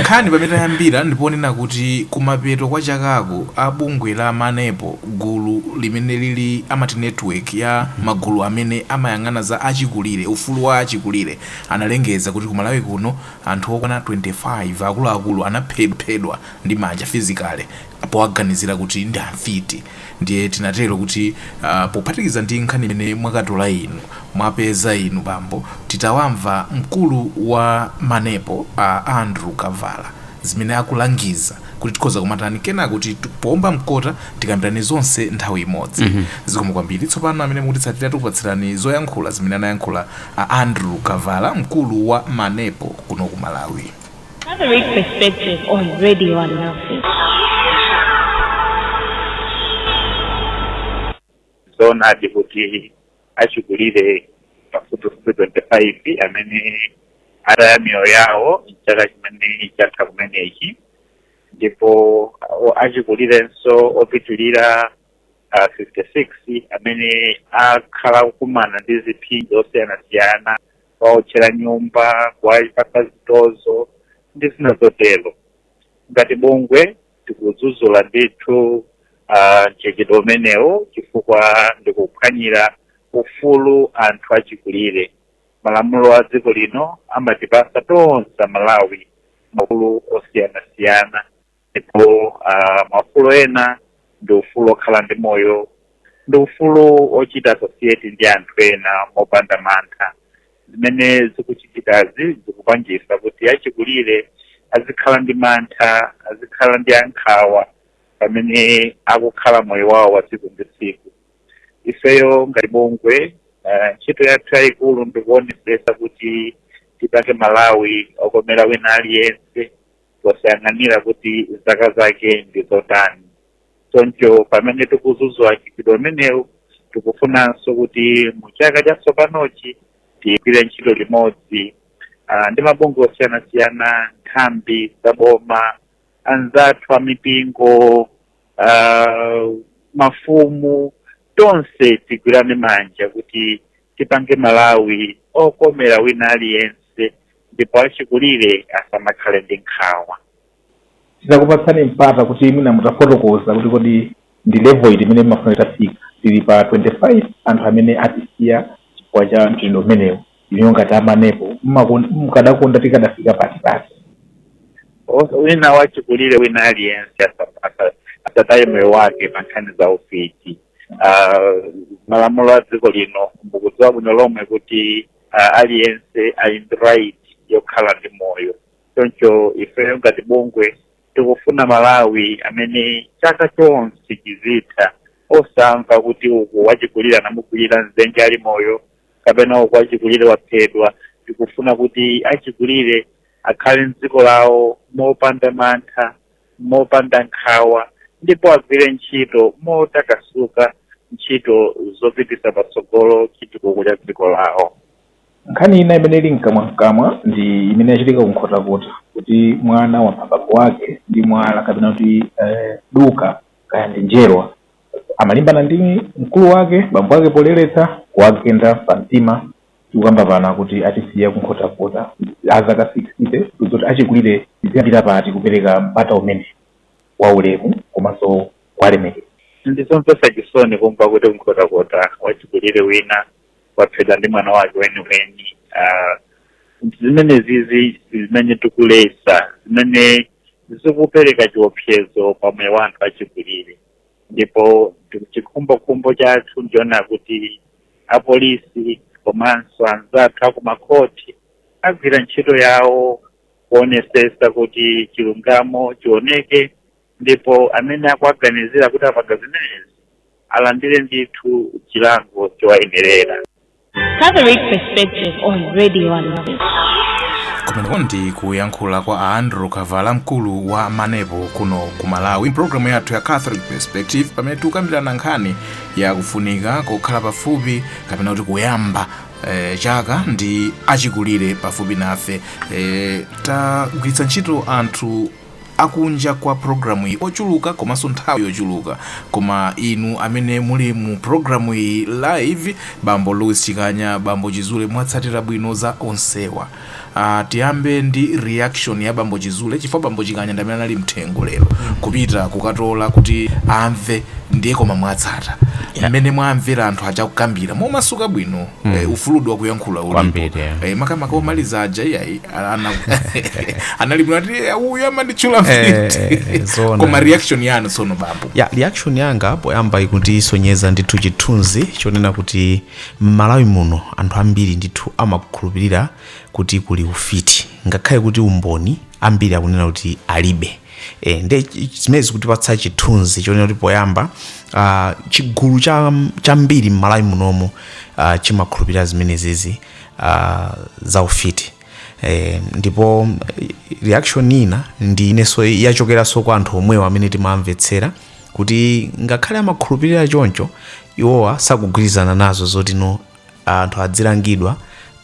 nkhani pamene tayambira ndiponena kuti kumapeto kwa chakako a bungwe la manepo gulu limene lili amati network ya magulu amene amayang'ana za achikulire ufulu wa achikulire analengeza kuti kumalawi kuno anthu okwana 25 akuluakulu anaphedwa ndi manja physically powaganizira kuti ndi amfiti ndiye tinatero kuti uh, pophatikiza ndi nkhani imene mwakatola inu mwapeza inu bambo titawamva mkulu wa manepo a andrew kavala zimene akulangiza kuti tikhoza kumatani kenaka poomba mkota tikambirane zonse nthawi imodzi mm -hmm. zikomo kwambiri tsopano amene mukutitsatira tikupatsirani zoyankhula zimene anayankhula a andrew kavala mkulu wa manepo kuno ku malawi Catholic Perspective on Radio Alinafe. zoonadi kuti achikulire pafupifupi 25 amene ataya miyoyo yawo mchaka chimene changotha kumenechi ndipo o- achikulirenso opitirira ah, 56 amene akhala akukumana ndi ziphinjo zosiyanasiyana kuwaotchera nyumba kuwapatsa zitozo ndi zina zotero ngati bungwe tikudzudzula ndithu uh, mchitidwe umenewo chifukwa ndikuphwanyira ufulu anthu achikulire malamulo a dziko lino amatipatsa tonse malawi maufulu osiyanasiyana ndipo uh, maufulu ena ndi ufulu okhala ndi moyo ndi ufulu ochita associate ndi anthu ena mopanda mantha zimene zikuchitikazi zikupangitsa kuti achikulire azikhala ndi mantha azikhala ndi nkhawa pamene akukhala moyo wawo wa tsiku ndi tsiku ifeyo ngati bungwe uh, ntchito yathu yayikulu ndikuonetsetsa kuti tipange malawi okomera wina aliyense posayang'anira kuti zaka zake ndi zotani choncho pamene tikudzudzula mchitidwe umenewu tikufunanso kuti mu chaka chatsopanochi tigwire ntchito limodzi ah, ndi mabungwe osiyanasiyana nthambi za boma anzathu a mipingo ah, mafumu tonse tigwirane manja kuti tipange malawi okomera wina aliyense ndipo achikulire asamakhale ndi nkhawa. titakupatsani mpata kuti mwina mutafotokoza kuti kodi ndi level iti imene mumafuna itafika tili pa 25 anthu amene atisiya chifukwa cha mchitidwe umenewu inuyo ngati amanepo mukadakonda tikadafika pati wina wachikulire wina aliyense asataye moyo wake pa nkhani za ufiti uh, malamulo a dziko lino mukudziwa bwino lomwe kuti uh, aliyense ali ndi right yokhala ndi moyo choncho ifeyo ngati bungwe tikufuna malawi amene chaka chonse chizitha osamva kuti uku wachikulira anamukwirira m'dzenje ali moyo kapena uku wachikulire waphedwa tikufuna kuti achikulire akhale mdziko lawo mopanda mantha mopanda nkhawa ndipo agwire ntchito motakasuka ntchito zopititsa patsogolo chitukuko cha dziko lawo. Nkhani ina imene ili mkamwamkamwa ndi imene yachitika ku Nkhotakota kuti mwana wapha bambo wake ndi mwala kapena kuti eh, duka kaya ndi njerwa amalimbana ndi mkulu wake bambo wake poleretsa kuwagenda pa mtima Tikukamba pano akuti atisiya ku Nkhotakota a zaka sikisite. Tiuze kuti achikulire tiziyambira pati kupereka mpata umenewu wa ulemu komanso kuwalemekeza? Ndi zomvetsa chisoni kumva kuti ku Nkhotakota wachikulire wina waphedwa ndi mwana wake weniweni. Zimenezizi zimene tikuletsa zimene zikupereka chiopsezo pa moyo wa anthu achikulire ndipo chikhumbokhumbo chathu ndi choona kuti. apolisi komanso anzathu akumakhoti agwira ntchito yawo kuonesesa kuti chilungamo chioneke ndipo amene akuwaganizira kuti apanga zimenezi alandire ndithu chilango chowayenerera Catholic perspective on Radio Alinafe. kumeneko ndi kuyankhula kwa a andrew kavala mkulu wa manepo kuno ku malawi mpulogalamu yathu ya catholic perspective pamene tikukambirana nkhani Ya kufunika kokhala pafupi kapena kuti kuyamba eh, chaka ndi achikulire pafupi nafe eh, tagwiritsa ntchito anthu akunja kwa programu iyi ochuluka komanso nthawi yochuluka koma inu amene muli mu programu iyi live bambo louis chikanya bambo chizule mwatsatira bwino za onsewa Aaa tiyambe ndi reaction ya bambo chizule chifukwa bambo chikanya ndamene anali mthengo lero kupita kukatola kuti amve ndiye koma mwatsata Yeah. mmene mwamvera anthu aja kukambira momasuka bwino eh, ufulu wa kuyankhula ulipo Kwambiri, eh. eh, makamaka omaliza aja iyayi ana- anali bwino ati "Eh, uyu amanditchula Eh, mfiti eh, eh, zoona. koma reaction yanu tsono bambo ya reaction yanga poyamba ikutisonyeza ndithu chithunzi chonena kuti M'Malawi muno anthu ambiri ndithu amakhulupirira kuti kuli ufiti ngakhale kuti umboni ambiri akunena kuti alibe. E, nde zimene zikutipatsa chithunzi chonena kuti poyamba uh, chigulu chambiri m'Malawi munomo uh, chimakhulupirira zimenezizi uh, za ufiti. Eh, ndipo eh, reaction ina ndi iyonso yachokeranso kwa anthu omwewo amene timamvetsera kuti ngakhale amakhulupirira choncho iwowa sakugwirizana nazo zoti no anthu adzilangidwa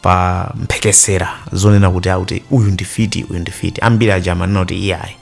pa mphekesera zonena kuti akuti uyu ndi fiti uyu ndi fiti ambiri aja amanena kuti iyayi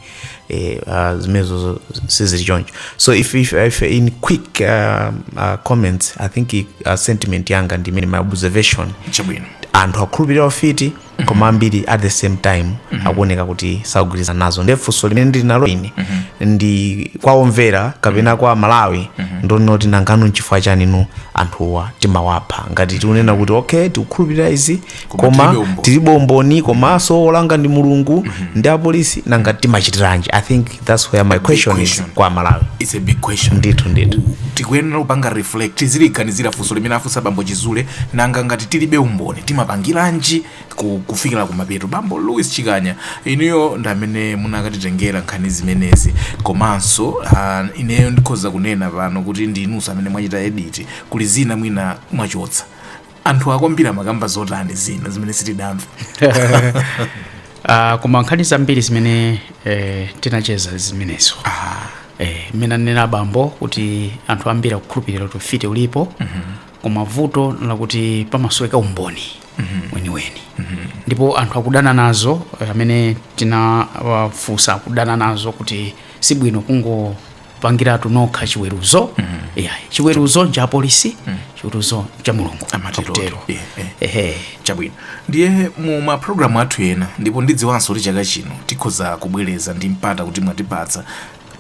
eh, uh, zimenezo sizili choncho so if, if, if in quick uh, uh, comments i think uh, sentiment yanga ndi imene my observation chabwino anthu akhulupirira ufiti koma ambiri at the same time akuoneka kuti sakugwirizana nazo ndiye funso limene ndili nalo ine ndi kwa omvera kapena kwa amalawi ndonena kuti nangano nchifukwa chani no anthuwa timawapha ngati tikunena kuti okay tikukhulupirira izi Koma koma tilibe umboni. tilibe umboni komanso olanga ndi mulungu ndi apolisi nanga timachitiranji i think that's where my question is question. kwa amalawi it's a big question ndithu ndithu tikuyenera kupanga reflect tiziliganizira funso limene afunsa bambo chizule nanga ngati tilibe umboni timapangiranji ku- kufikira kumapeto bambo louis chikanya inuyo ndi amene munakatitengera nkhani zimenezi komanso uh, ineyo ndikhoza kunena pano kuti ndinunso amene mwachita edit kuli zina mwina mwachotsa anthu ambiri amakamba zotani zina zimene sitidamve Ah, koma nkhani zambiri zimene eh, tinacheza zimenezo eh, mmene anena abambo kuti anthu ambiri akukhulupirira kuti ufiti ulipo koma vuto lakuti pamasoweka umboni weniweni ndipo anthu akudana nazo eh, amene tinawafunsa akudana nazo kuti sibwino kungo pangiratu nokha chiweruzo yeah. chiweruzo ncha apolisi chiweruzo ncha mulungu Amatero. Akutero. Yeah, yeah. Ehe. chabwino ndiye mu mapulogalamu athu ena ndipo ndidziwanso kuti chaka chino tikhoza kubwereza ndi mpata kuti mwatipatsa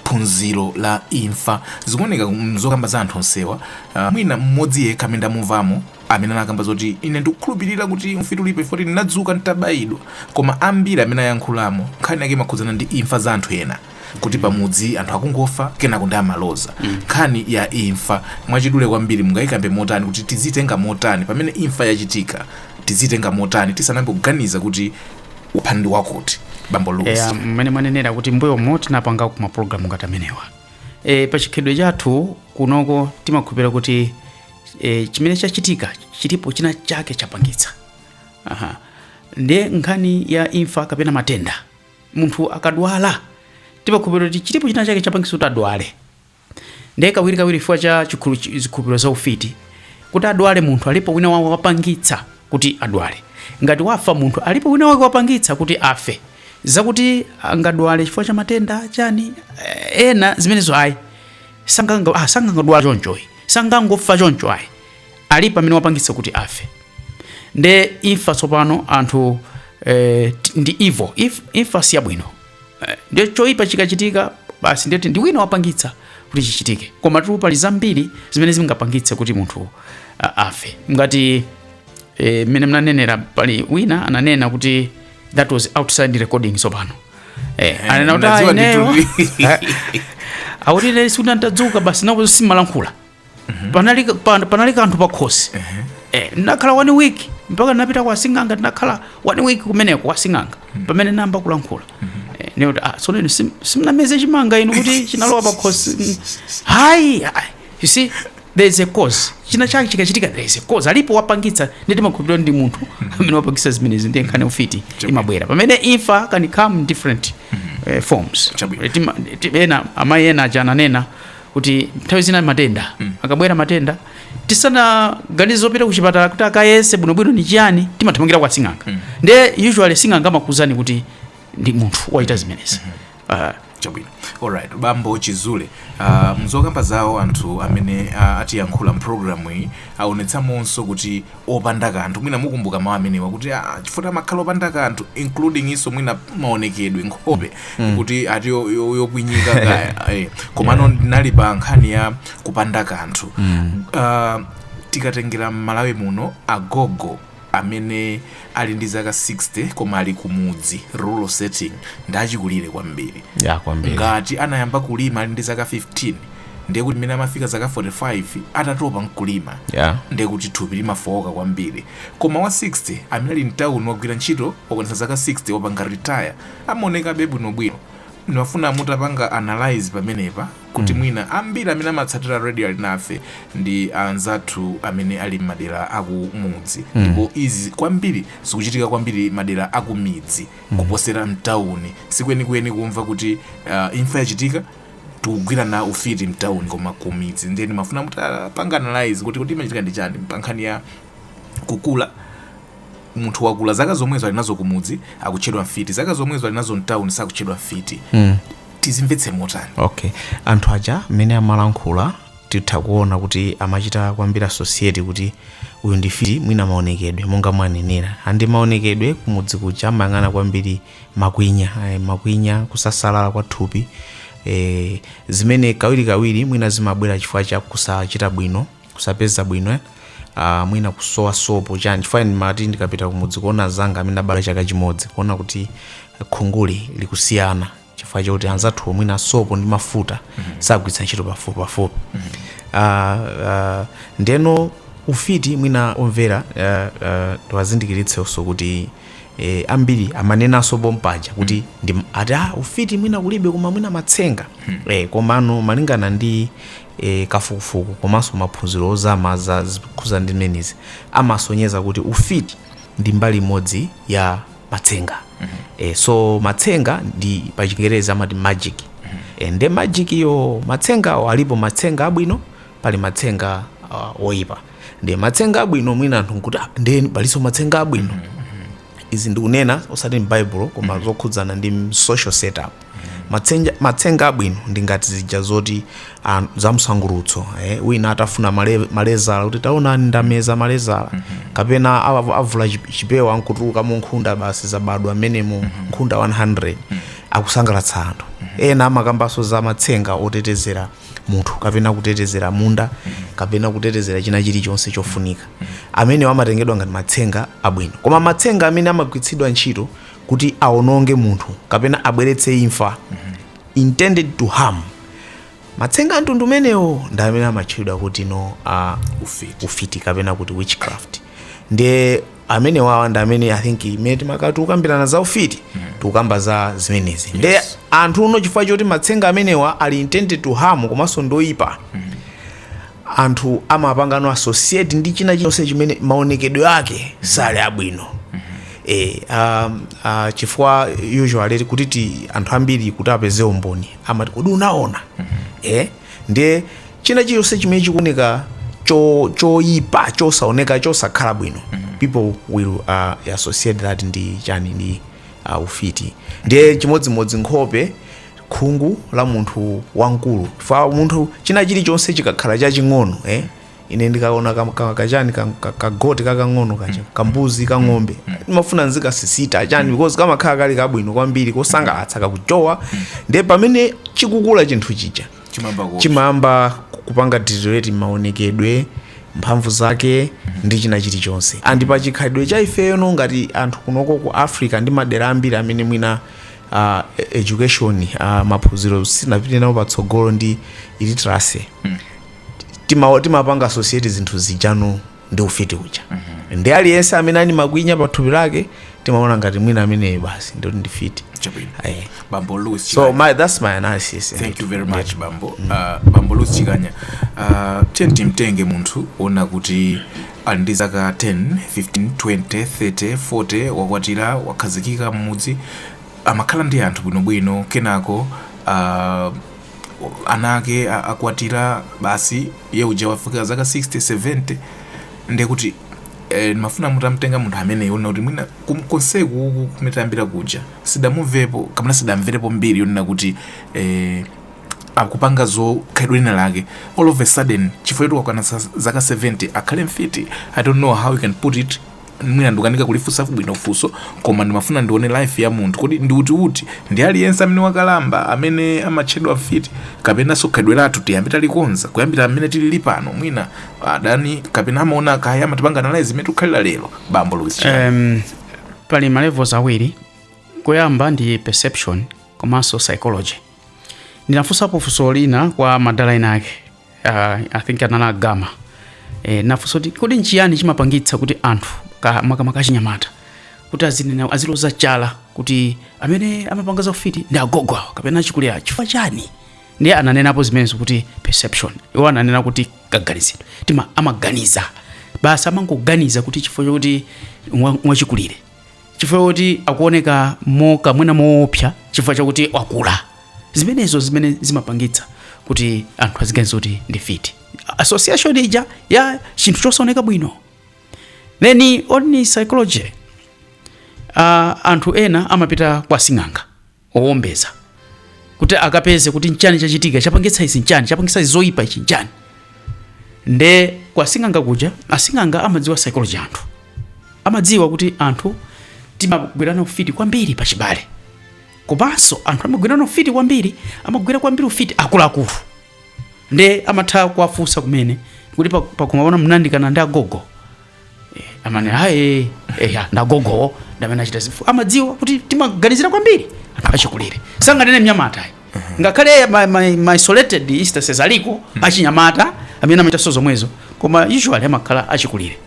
phunziro la imfa zikuoneka mzokamba za anthu onsewa uh, mwina mmodzi yekha amene ndamumvamo amene anakamba zoti ine ndikukhulupirira kuti ufiti ulipo chifoti ndinadzuka nditabayidwa koma ambiri amene ayankhulamo nkhani yake imakhudzana ndi imfa za anthu ena kuti pamudzi anthu akungofa kenako ndi amaloza nkhani ya imfa mwachidule kwambiri mungayikambe motani kuti tizitenga motani pamene imfa yachitika tizitenga motani tisanambe kuganiza kuti wapha ndi wakuti bambo Louis eya mmene mwanenera kuti mbuyomo tinapangako mapulogalamu ngati amenewa e, pa chikhalidwe chathu kunoko timakhulupira kuti e, chimene chachitika chilipo china chake chapangitsa Aha. ndiye nkhani ya imfa kapena matenda munthu akadwala timakhulupirira kuti chilipo china chake chapangitsa kuti adwale ndiye kawirikawiri chifukwa cha chikhulu- chi- zikhulupiriro za ufiti kuti adwale munthu alipo wina wake wapangitsa kuti adwale ngati wafa munthu alipo wina wake wapangitsa kuti afe zakuti angadwale chifukwa cha matenda chani eh, ena zimenezo ayi sanganga ah, sangangodwala chonchoyi sangangofa choncho ayi alipo amene wapangitsa kuti afe nde imfa tsopano anthu eh, t- ndi evil imfa si yabwino eh, nde choipa chikachitika basi ndeti ndi wina wapangitsa kuti chichitike komatu pali zambiri zimene zingapangitse kuti munthu a- afe ngati eh, mmene mnanenera pali wina ananena kuti that was outside recording tsopano eh, anena kuti "Ah, mnadziwa ineyo ndithu." akuti ine sikuti ndadzuka basi nakuti simalankhula panali, pa, panali kanthu pakhosi eh, ndinakhala one week mpaka ndinapita kwa sing'anga ndinakhala one week kumeneko kwa sing'anga pamene namba kulankhula eh, ndikuti ah, tsono inu sim- simnameze chimanga inu kuti chinalowa pakhosi Mm. ayi ayi. you see there is a cause china chake chikachitika there is a cause alipo wapangitsa ndeti makhulupiriro ndi munthu amene wapangitsa zimenezi ndiye nkhani ya ufiti imabwera pamene imfa can come in different eh, forms Chabwino. Eh, tima- ti- ena amayi ena aja ananena kuti nthawi zina matenda akabwera matenda tisanaganize zopita kuchipatala kuti akayese bwinobwino ni chiyani timathamangira kwa sing'anga nde usually sing'anga amakuuzani kuti ndi munthu wachita zimenezi Ah, chabwino alright bambo chizule uh, mzokamba zawo anthu amene uh, atiyankhula mpulogalamu iyi aonetsamonso kuti opanda kanthu mwina mukumbuka mawu amenewa kuti ah, chifukwa amakhala opanda kanthu including iso mwina maonekedwe nkhope mm. kuti ati yo- yo- yokwinyika kaya eh. komano ndinali pa nkhani ya kupanda kanthu mm. uh, tikatengera m'Malawi muno agogo amene ali ndi zaka 60 koma ali kumudzi rural setting ndachikulire kwambiri ya kwambiri ngati anayamba kulima ali ndi zaka 15 ndiye kuti mmene amafika zaka 45 atatopa nkulima Yeah. ndiye kuti thupi limafowoka kwambiri koma wa 60 amene ali mtawuni wagwira ntchito wakwanitsa zaka 60 wapanga retire amaonekabe bwinobwino ndimafuna mutapanga analyze pamenepa kuti mwina ambiri amene amatsatira radio ali nafe ndi anzathu amene ali m'madera akumudzi ndipo izi kwambiri zikuchitika kwambiri madera akumidzi kuposera mtawuni sikwenikweni kumva kuti uh, imfa yachitika yokhudzana ndi ufiti mtauni koma kumidzi ndiye ndimafuna mutapanga analyze kuti kuti imachitika ndi chani pa nkhani ya kukula munthu wakula zaka zomwezo ali nazo kumudzi akutchedwa mfiti zaka zomwezo ali nazo mtauni sakutchedwa mfiti mm. tizimvetse motani okay anthu aja mmene amalankhula titha kuona kuti amachita kwambiri associate kuti uyu ndi mfiti mwina maonekedwe monga mwanenera andi maonekedwe kumudzi kuja amayang'ana kwambiri makwinya eh, makwinya kusasalala kwa thupi eh, zimene kawirikawiri mwina zimabwera chifukwa cha kusachita bwino kusapeza bwino eh? uh, mwina kusowa sopo chani chifukwa ine ndimati ndikapita kumudzi kuona anzanga amene tinabadwa chaka chimodzi kuona kuti khunguli likusiyana chifukwa chakuti anzathu mwina sopo ndi mafuta sagwiritsa ntchito pafupi pafupi uh, uh, ndeno ufiti mwina omvera uh, uh, tiwazindikiritsenso kuti e, ambiri amanenanso pompaja kuti mm. ndi ati ah, ufiti mwina kulibe koma mwina matsenga mm. e, komano malingana ndi e, kafukufuku komanso maphunziro ozama okhudzana ndi zimenezi amasonyeza kuti ufiti ndi mbali imodzi ya matsenga mm -hmm. e, so matsenga ndi pachingerezi amati magic mm -hmm. e, nde magic yo matsenga alipo matsenga abwino pali matsenga uh, oyipa nde matsenga abwino mwina anthu nkuti "Ah, ndiye palinso matsenga abwino izi ndikunena osati m'Bible koma zokhudzana ndi m- social setup Matsenja- matsenga abwino ndi ngati zija zoti ah, za msangulutso eh, wina akutafuna male- malezala kuti taonani ndameza malezala kapena awa- avula chip- chipewa nkutulukamo nkhunda basi zabadwa mmenemo nkhunda 100 akusangalatsa anthu ena amakambanso za matsenga otetezera munthu kapena kutetezera munda kapena kutetezera china chilichonse chofunika amenewo amatengedwa ngati matsenga abwino koma matsenga amene amagwiritsidwa ntchito kuti awononge munthu kapena abweretse imfa intended to harm matsenga amtundu umenewo ndi amene amatchedwa kuti no uh, ufiti kapena kuti witchcraft ndiye amene wawa ndi amene i think pamene timakhala tikukambirana za ufiti tikukamba za zimenezi nde anthu no chifukwa choti matsenga amenewa ali intended to harm komanso ndoyipa anthu amapanga no associate ndi china chonse chimene maonekedwe ake sali abwino e, um, uh, chifukwa usually kuti ti anthu ambiri kuti apeze umboni amati kodi unaona e, Ndiye, china chilichonse chimene chikuoneka choipa, chosaoneka, chosakhala bwino, people will uh, associate that ndi chani, ndi uh, ufiti. Ndiye chimodzimodzi nkhope, khungu la munthu wamkulu, chifukwa munthu, china chilichonse chikakhala chaching'ono eh, ine ndikaona ka- ka- kachani ka- ka- kagoti kakang'ono kacha kambuzi kang'ombe ndimafuna nzikasisita chani because kamakhala kali kabwino kwambiri kosangalatsa kakuchowa ndiye pamene chikukula chinthu chija chimamba ku chimayamba kupanga deteriorate maonekedwe mphamvu zake ndi china chilichonse and pa chikhalidwe cha ifeyo no ngati anthu kunoko ku africa ndi madera ambiri amene mwina uh, education uh, maphunziro sanapite nawo patsogolo ndi illiteracy tima timapanga associate zinthu zija no ndi ufiti uja ndi aliyense amene ali makwinya pa thupi lake timaona ngati mwina ameneyo basi ndoti ndi mfiti Chabwino. Eh. bambo louis so Chikanya. my, that's my analysis thank you very much bambo uh, bambo louis chikanya uh, tiyeni timtenge munthu ona kuti ali ndi zaka 10 15 20 30 40 wakwatira wakhazikika mmudzi amakhala ndi anthu bwinobwino kenako uh, ana ake a- akwatira basi iye uja wafika zaka 60 70 ndiye kuti eh, ndimafuna mutamtenga munthu ameneyo kunena kuti mwina kum- konseku uku kumene tayambira kuja sidamumvepo kapena sidamverepo mbiri yonena kuti eh, akupanga za khalidwe lina lake all of a sudden chifukwa choti wakwana sa- zaka 70 akhale mfiti i don't know how you can put it mwina ndikukanika kulifunsa bwino funso koma ndimafuna ndione life ya munthu kodi ndi kuti kuti ndi aliyense amene wakalamba amene amatchedwa mfiti kapena za khalidwe lathu tiyambe talikonza kuyambira mmene tilili pano mwina adani kapena amaona kaya amatipanga analyze mmene tikukhalira lero bambo Louis Chikanya. um, pali ma levels awiri koyamba ndi perception komanso psychology ndinafunsapo funso lina kwa madala ena ake uh, i think analankhulapo e, nafunso kuti kodi nchiyani chimapangitsa kuti anthu ka- makamaka achinyamata kuti azinena aziloza chala kuti amene amapanga za ufiti ndi agogo awo kapena achikulire awo chifukwa chani ndiye ananenapo zimenezo kuti perception iwo ananena kuti kaganizidwe timangoganiza basi amangoganiza kuti chifukwa chokuti wa- wachikulire chifukwa choti akuoneka mokamwina moopsa chifukwa chakuti wakula zimenezo zimene zimapangitsa kuti anthu aziganiza kuti ndi mfiti association ija ya chinthu chosaoneka bwino then on psychology uh, anthu ena amapita kwa sing'anga owombeza kuti akapeze kuti nchani chachitika chapangitsa izi nchani chapangitsa izi zoyipa ichi nchani nde kwa asing'anga kuja asing'anga amadziwa psychology ya anthu amadziwa kuti anthu timagwirana ufiti kwambiri pachibale komanso anthu amagwirana ufiti kwambiri amagwira kwambiri ufiti akuluakulu nde amatha kuwafunsa kumene kuti pa- pakhomo pano munayandikana ndi agogo Eh, amati aye eya ndagogowo ndamene achita chifukwa amadziwa kuti timaganizira kwambiri anthu achikulire sanganene mnyamata ayi ngakhale ma- ma- ma isolated instances aliko achinyamata amene amachitanso zomwezo koma usually amakhala achikulire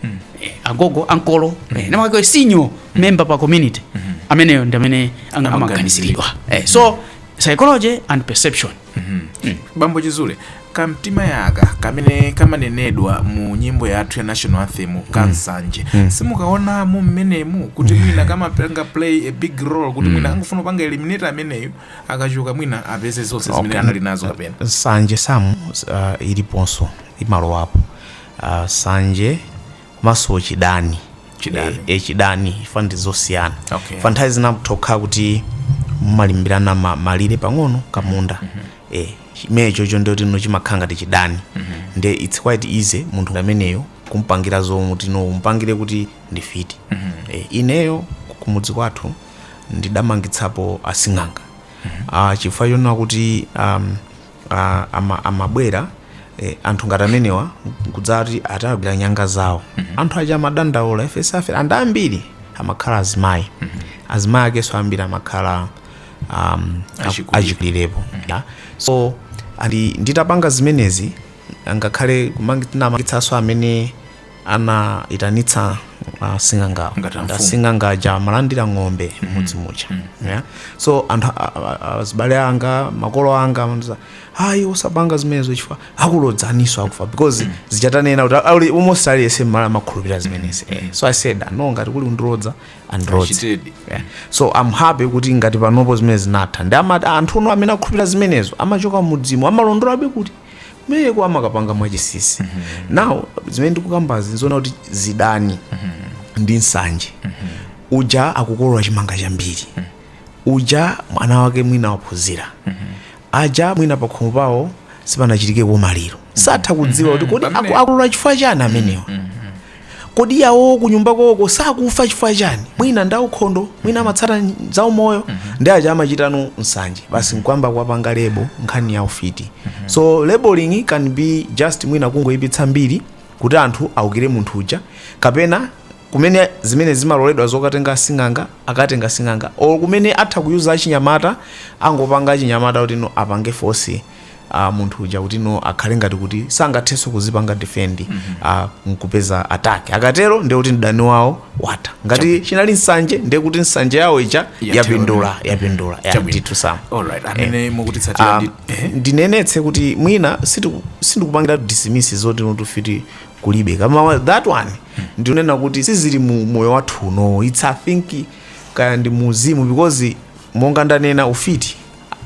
Eh, agogo ankolo eh, namakhala senior member pa community ameneyo ndi amene anga- amaganiziridwa Eh, so psychology and perception Bambo Chizule, kamtima aka kamene kamanenedwa mu nyimbo yathu ya national anthem ka nsanje simukaonamo mmenemu kuti mwina kamapanga play a big role kuti mwina angofuna kupanga eliminate ameneyo akachoka mwina apeze zonse zimene Okay. anali nazo kapena nsanje sum uh, iliponso imalowapo uh, nsanje komanso chidani Chidani. Eh, eh, chidani chifukwa ndi zosiyana Okay. chifukwa nthawi zina zimatha kukhala kuti mumalimbirana ma- malire pang'ono kamunda eh, chimenechocho ndiye choti no chimakhala ngati chidani nde its quite easy munthu ameneyo kumpangira zonena kuti no umpangire kuti ndi mfiti eh, ineyo kumudzi kwathu ndidamangitsapo asing'anga ah, chifukwa chonena kuti um, amabwera anthu ngati amenewa nkudzati atagwire nyanga zawo anthu aja amadandaula ife si mfiti and ambiri amakhala azimayi azimayi akenso ambiri amakhala um, Achikulire. achikulirepo yeah. so and nditapanga zimenezi ngakhale kumangitsanso amene anaitanitsa asing'angawo Ngati amfumu. asing'anga aja amalandira ng'ombe mmudzi muja yeah? so anthu a- a- a- azibale anga makolo anga amandiuza ayi usapange zimenezo chifukwa akulodzanso ukufa because chifukwa chonena kuti ali- almost aliyese mMalawi amakhulupirira zimenezi Eh, so i said no ngati kuli ondilodza andilodze Achitedi. Yeah. so I'm happy kuti ngati panopo zimenezi zinatha ndi amati anthu no amene akhulupirira zimenezo amachoka mmudzimu amalondolabe kuti kumeneko amakapanga mwachisisi now zimene ndikukambazi nzoona kuti zidani ndi nsanje uja akukolola chimanga chambiri uja mwana wake mwina waphunzira aja mwina pakhomo pawo sipanachitikeko maliro satha kudziwa kuti kodi aku- akolola chifukwa chani amenewa Kodi yawowo kunyumba kwawoko sakufa chifukwa chani? Mwina ndi aukhondo, mwina amatsata zaumoyo ndi aja amachitano nsanje basi nkuyamba kuwapanga label nkhani ya ufiti. So labelling can be just mwina kungoipitsa mbiri kuti anthu aukire munthu uja kapena kumene zimene zimaloledwa zokatenga asing'anga akatenga asing'anga or kumene atha ku use achinyamata angopanga achinyamata kuti no apange force a munthu uja kuti no akhale ngati kuti sangathenso kuzipanga defend mm -hmm. a nkupeza attack akatero ndiye kuti mdani wawo watha ngati chinali nsanje ndiye kuti nsanje yawo ija Yathera. yapindula yapindula ya Chabwino. ndithu sama alright amene mukutitsatira ndi ehe. ndinenetse kuti mwina sitiku- sindikupangira dismiss zoti no ufiti kulibe kama wa- that one ndinena kuti sizili mu moyo wathu uno its i think kaya ndi mu uzimu because monga ndanena ufiti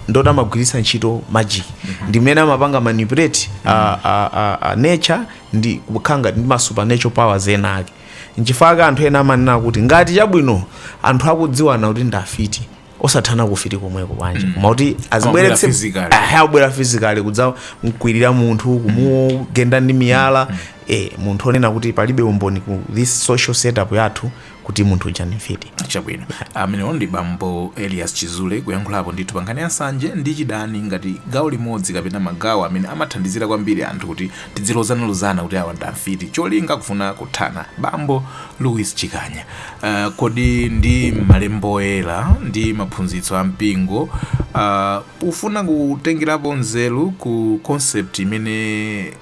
ndoti amagwiritsa ntchito magic ndi mmene amapanga manipulate a, a, a, a nature ndi kukhala ngati ndi ma supernatural powers ena ake nchifukwa chake anthu ena amanena kuti ngati chabwino anthu akudziwana kuti ndi afiti osathana kufiti komweko bwanji koma kuti azibweretse physically. Aha, abwera physically kudzamkwirira munthu kumugenda ndi miyala eh, munthu onena kuti palibe umboni ku this social setup yathu kuti munthu uja ndi mfiti. Chabwino. Amenewo ndi bambo Elias Chizule kuyankhulapo ndithu pa nkhani ya nsanje ndi chidani ngati gawo limodzi kapena magawo amene amathandizira kwambiri anthu kuti tidzilozanalozana kuti awa ndi afiti cholinga kufuna kuthana. Bambo Louis Chikanya, ah, kodi ndi m'Malembo Oyera ndi maphunzitso a mpingo, ah, pofuna kutengerapo nzeru ku concept imene.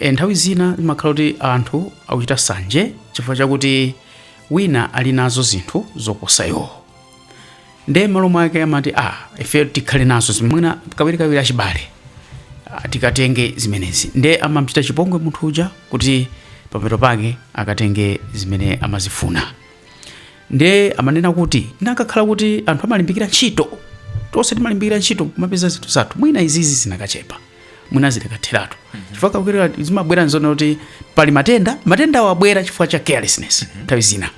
E, nthawi zina zimakhala kuti anthu akuchita sanje chifukwa chakuti wina ali nazo zinthu zoposa iwo nde malo mwake amati a ah, ife tikhale nazo mwina kawirikawiri achibale ah, tikatenge zimenezi nde amamchita chipongwe munthu uja kuti pamapeto pake akatenge zimene amazifuna nde amanena kuti nakakhala kuti anthu amalimbikira ntchito tonse timalimbikira ntchito kumapeza zinthu zathu mwina izizi zinakachepa mwina zikanatheratu chifukwa kakwera zimabwera nzona kuti pali matenda matenda awabwera chifukwa cha carelessness nthawi zina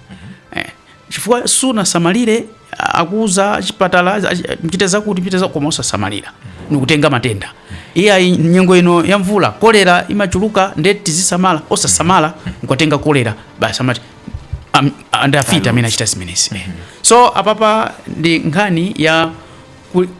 Eh, chifukwa sunasamalire a- akuuza chipatala a- a- mchite zakuti mchite zakuti koma osasamalira nikutenga matenda iye ayi nyengo ino ya mvula kolera imachuluka nde tizisamala osasamala nkukatenga kolera basi amati am- ndi afiti amene achita zimenezi Eh. so apapa ndi nkhani ya ku-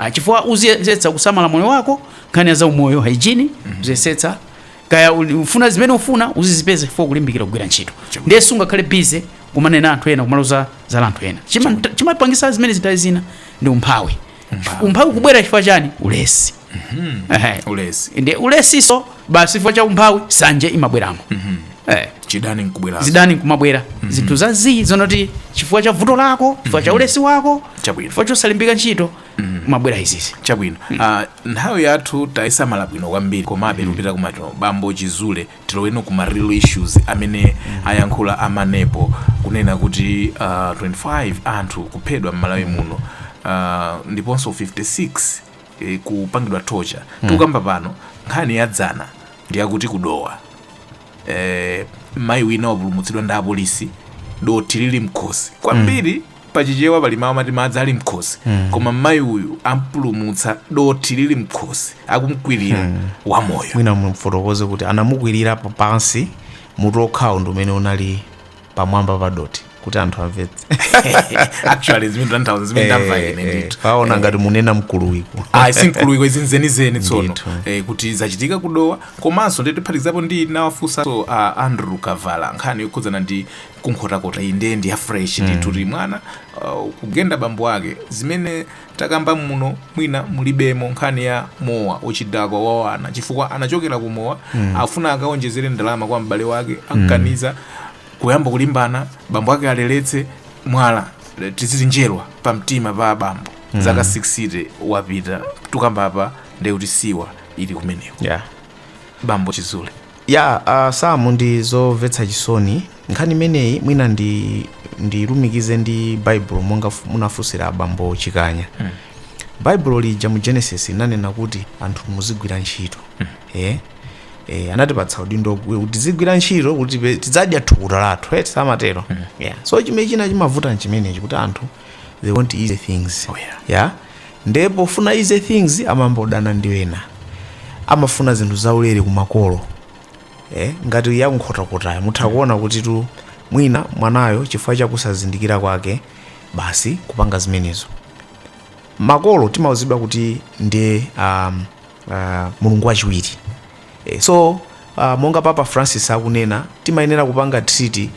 Ah, chifukwa uziyesetsa kusamala moyo wako nkhani ya zaumoyo hygiene mm -hmm. uziyesetsa kaya uli- ufuna zimene ufuna uzizipeze chifukwa kulimbikira kugwira ntchito ndiye sungakhale busy kumanena anthu ena kumaloza za anthu ena Chima- chimapangisa zimene nthawi zina ndi umphawi umphawi kubwera chifukwa chani ulesi Ehe. ulesi ndi ulesiso basi chifukwa cha umphawi sanje imabweramo eh, chidani nkubwera zidani nkumabwera zinthu za zii zonati chifukwa cha vuto lako chifukwa cha ulesi wako Chabwino. chifukwa chosalimbikira ntchito kumabwera izizi chabwino Ah, nthawi yathu tayisamala bwino kwambiri komabe kupita kumaso bambo chizule tiloweno kuma real issues amene ayankhula amanepo kunena kuti ah, 25 anthu kuphedwa m'malawi muno Ah, ndiponso 56 e, kupangidwa torture tikukamba pano nkhani ya dzana ndi yakuti ku Dowa e, mayi wina wapulumutsidwa ndi apolisi dothi lili mkhosi kwambiri pachichewa pali mawu amati madzi ali mkhosi koma mayi uyu ampulumutsa dothi lili mkhosi akumkwirira wamoyo mwina mumfotokoze kuti anamukwirira pansi mutu okhawo ndi umene unali pamwamba pa dothi kuti anthu amvetse actually zimene ndatanthauza zimene ndamva ine Eh, eh, ndithu paona ngati munena mkuluwiko ayi si mkuluwiko izi nzenizeni tsono Ndithu. eh, kuti zachitika ku Dowa komanso tiphatikizepo ndinawafunsa a andrew kavala nkhani yokhudzana ndi ku Nkhotakota iyi ndiye ndi ya fresh ndithu kuti mwana uh, kugenda bambo ake zimene takamba muno mwina mulibemo nkhani ya mowa uchidakwa wa wana chifukwa anachokera ku mowa mm. afuna akaonjezere ndalama kwa m'bale wake amkaniza kuyamba kulimbana bambo ake aleletse mwala le- chidutswa cha njerwa pa mtima pa bambo mm. zaka 60 wapita tukamba apa ndekuti siwa ili kumeneko yeah. bambo chizule Yeah a Sam ndi zomvetsa chisoni nkhani imeneyi mwina ndi ndilumikize ndi baibulo monga fu- munafunsira abambo chikanya baibulo lija mu genesis linanena kuti anthu muzigwira ntchito eh eh anatipatsa udindo kuti tizigwira ntchito kuti tipe- tidzadya thukuta lathu eti samatero yeah so chimene china chimavuta nchimenechi kuti anthu they want easy things Oh, yeah. ya nde pofuna easy things amangodana ndi ena amafuna zinthu zaulere kumakolo eh, ngati ya ku Nkhotakotayo mutha kuona kutitu mwina mwanayo chifukwa chakusazindikira kwake basi kupanga zimenezo makolo timauzidwa kuti ndi um, uh, mulungu wachiwiri E, so uh, monga Papa Francis akunena timayenera kupanga treat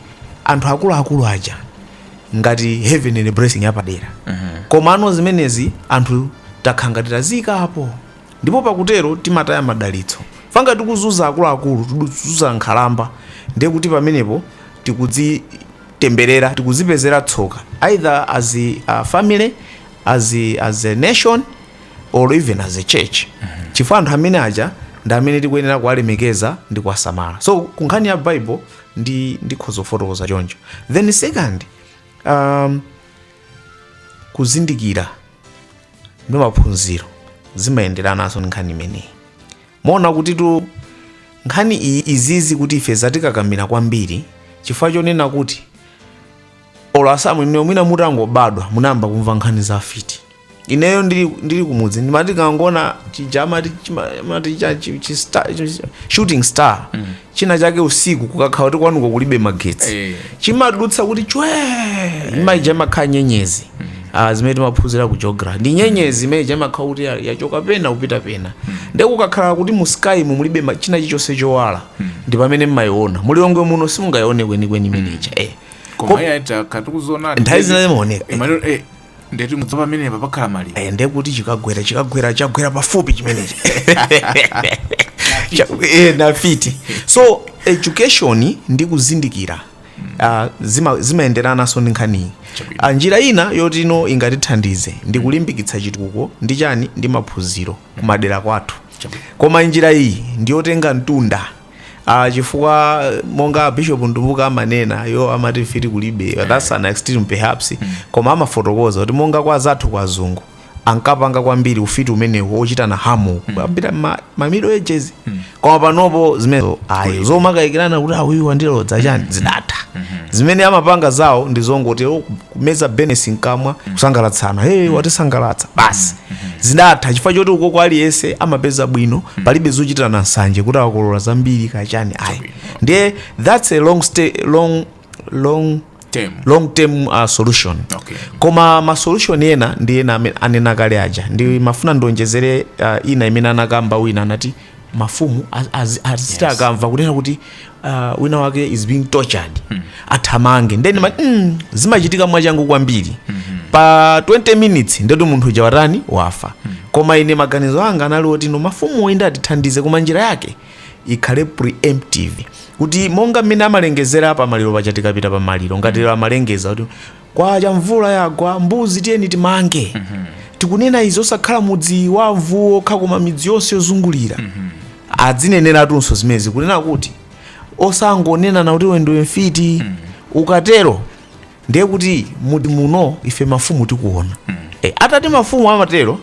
anthu akuluakulu aja ngati heavenly blessing yapadera komano zimenezi anthu takhala ngati tazitayapo ndipo pakutero timataya madalitso ngati tikuzuza akuluakulu tikuzuza nkhalamba ndiye kuti pamenepo tikudzitemberera tikudzipezera tsoka either as a uh, family as a, as a nation or even as a church chifukwa anthu amene aja ndi amene tikuyenera kuwalemekeza ndi kuwasamala so ku nkhani ya bible ndi ndikhoza kufotokoza choncho then second um, kuzindikira ndi maphunziro zimayenderananso ndi nkhani imeneyi muona kutitu nkhani iyi izizi kuti ife zatikakamira kwambiri chifukwa chonena kuti olo a Sam inu mwina mutangobadwa munayamba kumva nkhani za afiti ineyo ndili, ndili kumudzi timati tikangoona chija amati chima- amati cha- chi- chi- star- chi- chi- shooting star china chake usiku kukakhala kuti kwanuko kulibe magetsi Eh. chimadutsa kuti chwe imene ija imakhala nyenyezi Ah, zimene timaphunzira ku geography ndi nyenyezi imene ija imakhala kuti ya- yachoka pena kupita pena nde kukakhala kuti mu sky mu mulibe ma- china chilichonse chowala ndi pamene mmaiona mu Lilongwe muno simungaione kwenikweni imene ija eh. Ko- koma iye aita tatikuziona nthawi zina zimaoneka ndeti mudziwa pamenepa pakhala maliro Eh, ndiye kuti chikagwera chikagwera chagwera pafupi chimenechi Cha- eh, ndi mfiti so education ndi kuzindikira ah, zima- zimayenderananso ndi nkhaniyi Chabwino. Ah, njira ina yoti ino ingatithandize ndi kulimbikitsa chitukuko ndi chani ndi maphunziro kumadera kwathu Chabwino. koma njira iyi ndiyotenga mtunda a chifukwa monga bishop Mtumbuka amanena iwo amati mfiti kulibe that's an extreme perhaps koma amafotokoza kuti monga kwa anzathu kwa azungu ankapanga kwambiri ufiti umenewu ochitana harm mu ma, ma middle ages koma panopo zimenezo ayi zomakayikirana kuti awuyu wandilodza chani zidatha zimene amapanga zawo ndi zongoti "Oh, kumeza business mkamwa kusangalatsana hey watisangalatsa basi zidatha chifukwa choti ukoko aliyense amapeza bwino palibe zochitirana nsanje kuti awa akolola zambiri kachani ayi ndiye that's a long, stay, long, long, Term. long term uh, solution Okay. koma masolution ena ndi ena amene anena kale aja ndimafuna ndionjezere uh, ina imene anakamba wina anati mafumu aziti yes. akamva kunena kuti uh, wina wake is being tortured mm. athamange ndiye mm. mm, zimachitika mwachangu kwambiri mm -hmm. pa 20 minutes ndeti munthu uja watani wafa mm. koma ine maganizo anga anali oti no mafumu inde atithandize koma njira yake ikhale preemptive kuti monga mmene amalengezera pa maliro paja tikapita pa maliro ngati mm. amalengeza kuti Kwacha mvula yagwa mbuzi tiyeni timange tikunena izi osakhala mudzi wa amvuwu okha koma midzi yonse yozungulira adzineneratunso zimenezi kunena kuti osangonenana kuti iwe ndiwe mfiti ukatero ndiye kuti mudzi muno ife mafumu tikuona atati mafumu amatero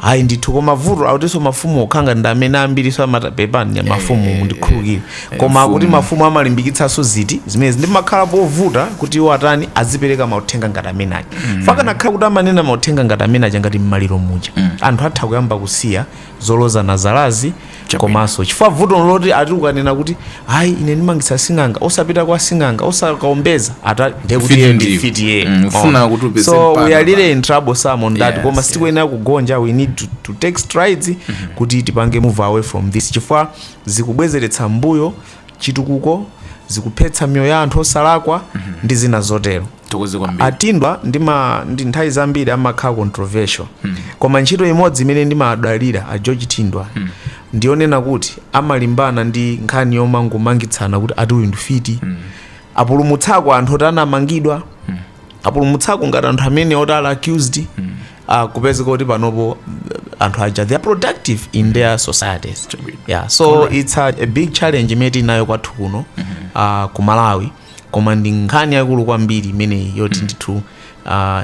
Ayi ndithu koma vuto akutinso mafumu okhanga ndi amene ambiriso amata pepani mafumu mundikhulukire koma akuti mafumu amalimbikitsanso zinthu zimenezi ndiye makhala povuta kuti iwo atani azipereka mauthenga ngati amene aja chifukwa akanakhala kuti amanena mauthenga ngati amene aja ngati mmaliro muja anthu atha kuyamba kusiya zolozana zalazi komanso chifukwa vuto ndi loti ati ukanena kuti ayi ine ndimangitse sing'anga osapita kwa sing'anga osakaombeza ata ndiye kuti ndi mfiti iye so we are really in trouble Sam on that koma sitikuyenera kugonja we need to, to take strides kuti tipange move away from this chifukwa zikubwezeretsa mbuyo chitukuko zikuphetsa miyoyo ya anthu osalakwa ndi zina zotero a Thindwa ndima ndi nthawi zambiri amakhala controversial koma ntchito imodzi imene ndimadalira a George Thindwa ndiyonena kuti amalimbana ndi nkhani yomangomangitsana kuti ati uyu ndi mfiti apulumutsako anthu oti anamangidwa apulumutsako ngati anthu amene oti ali accused ah, kupezeka kuti panopo uh, anthu aja they are productive in their societies yeah so it's a, a big challenge imene tili nayo kwathu kuno ah, ku malawi koma ndi nkhani yaikulu kwambiri imeneyi yoti mm. ndithu uh,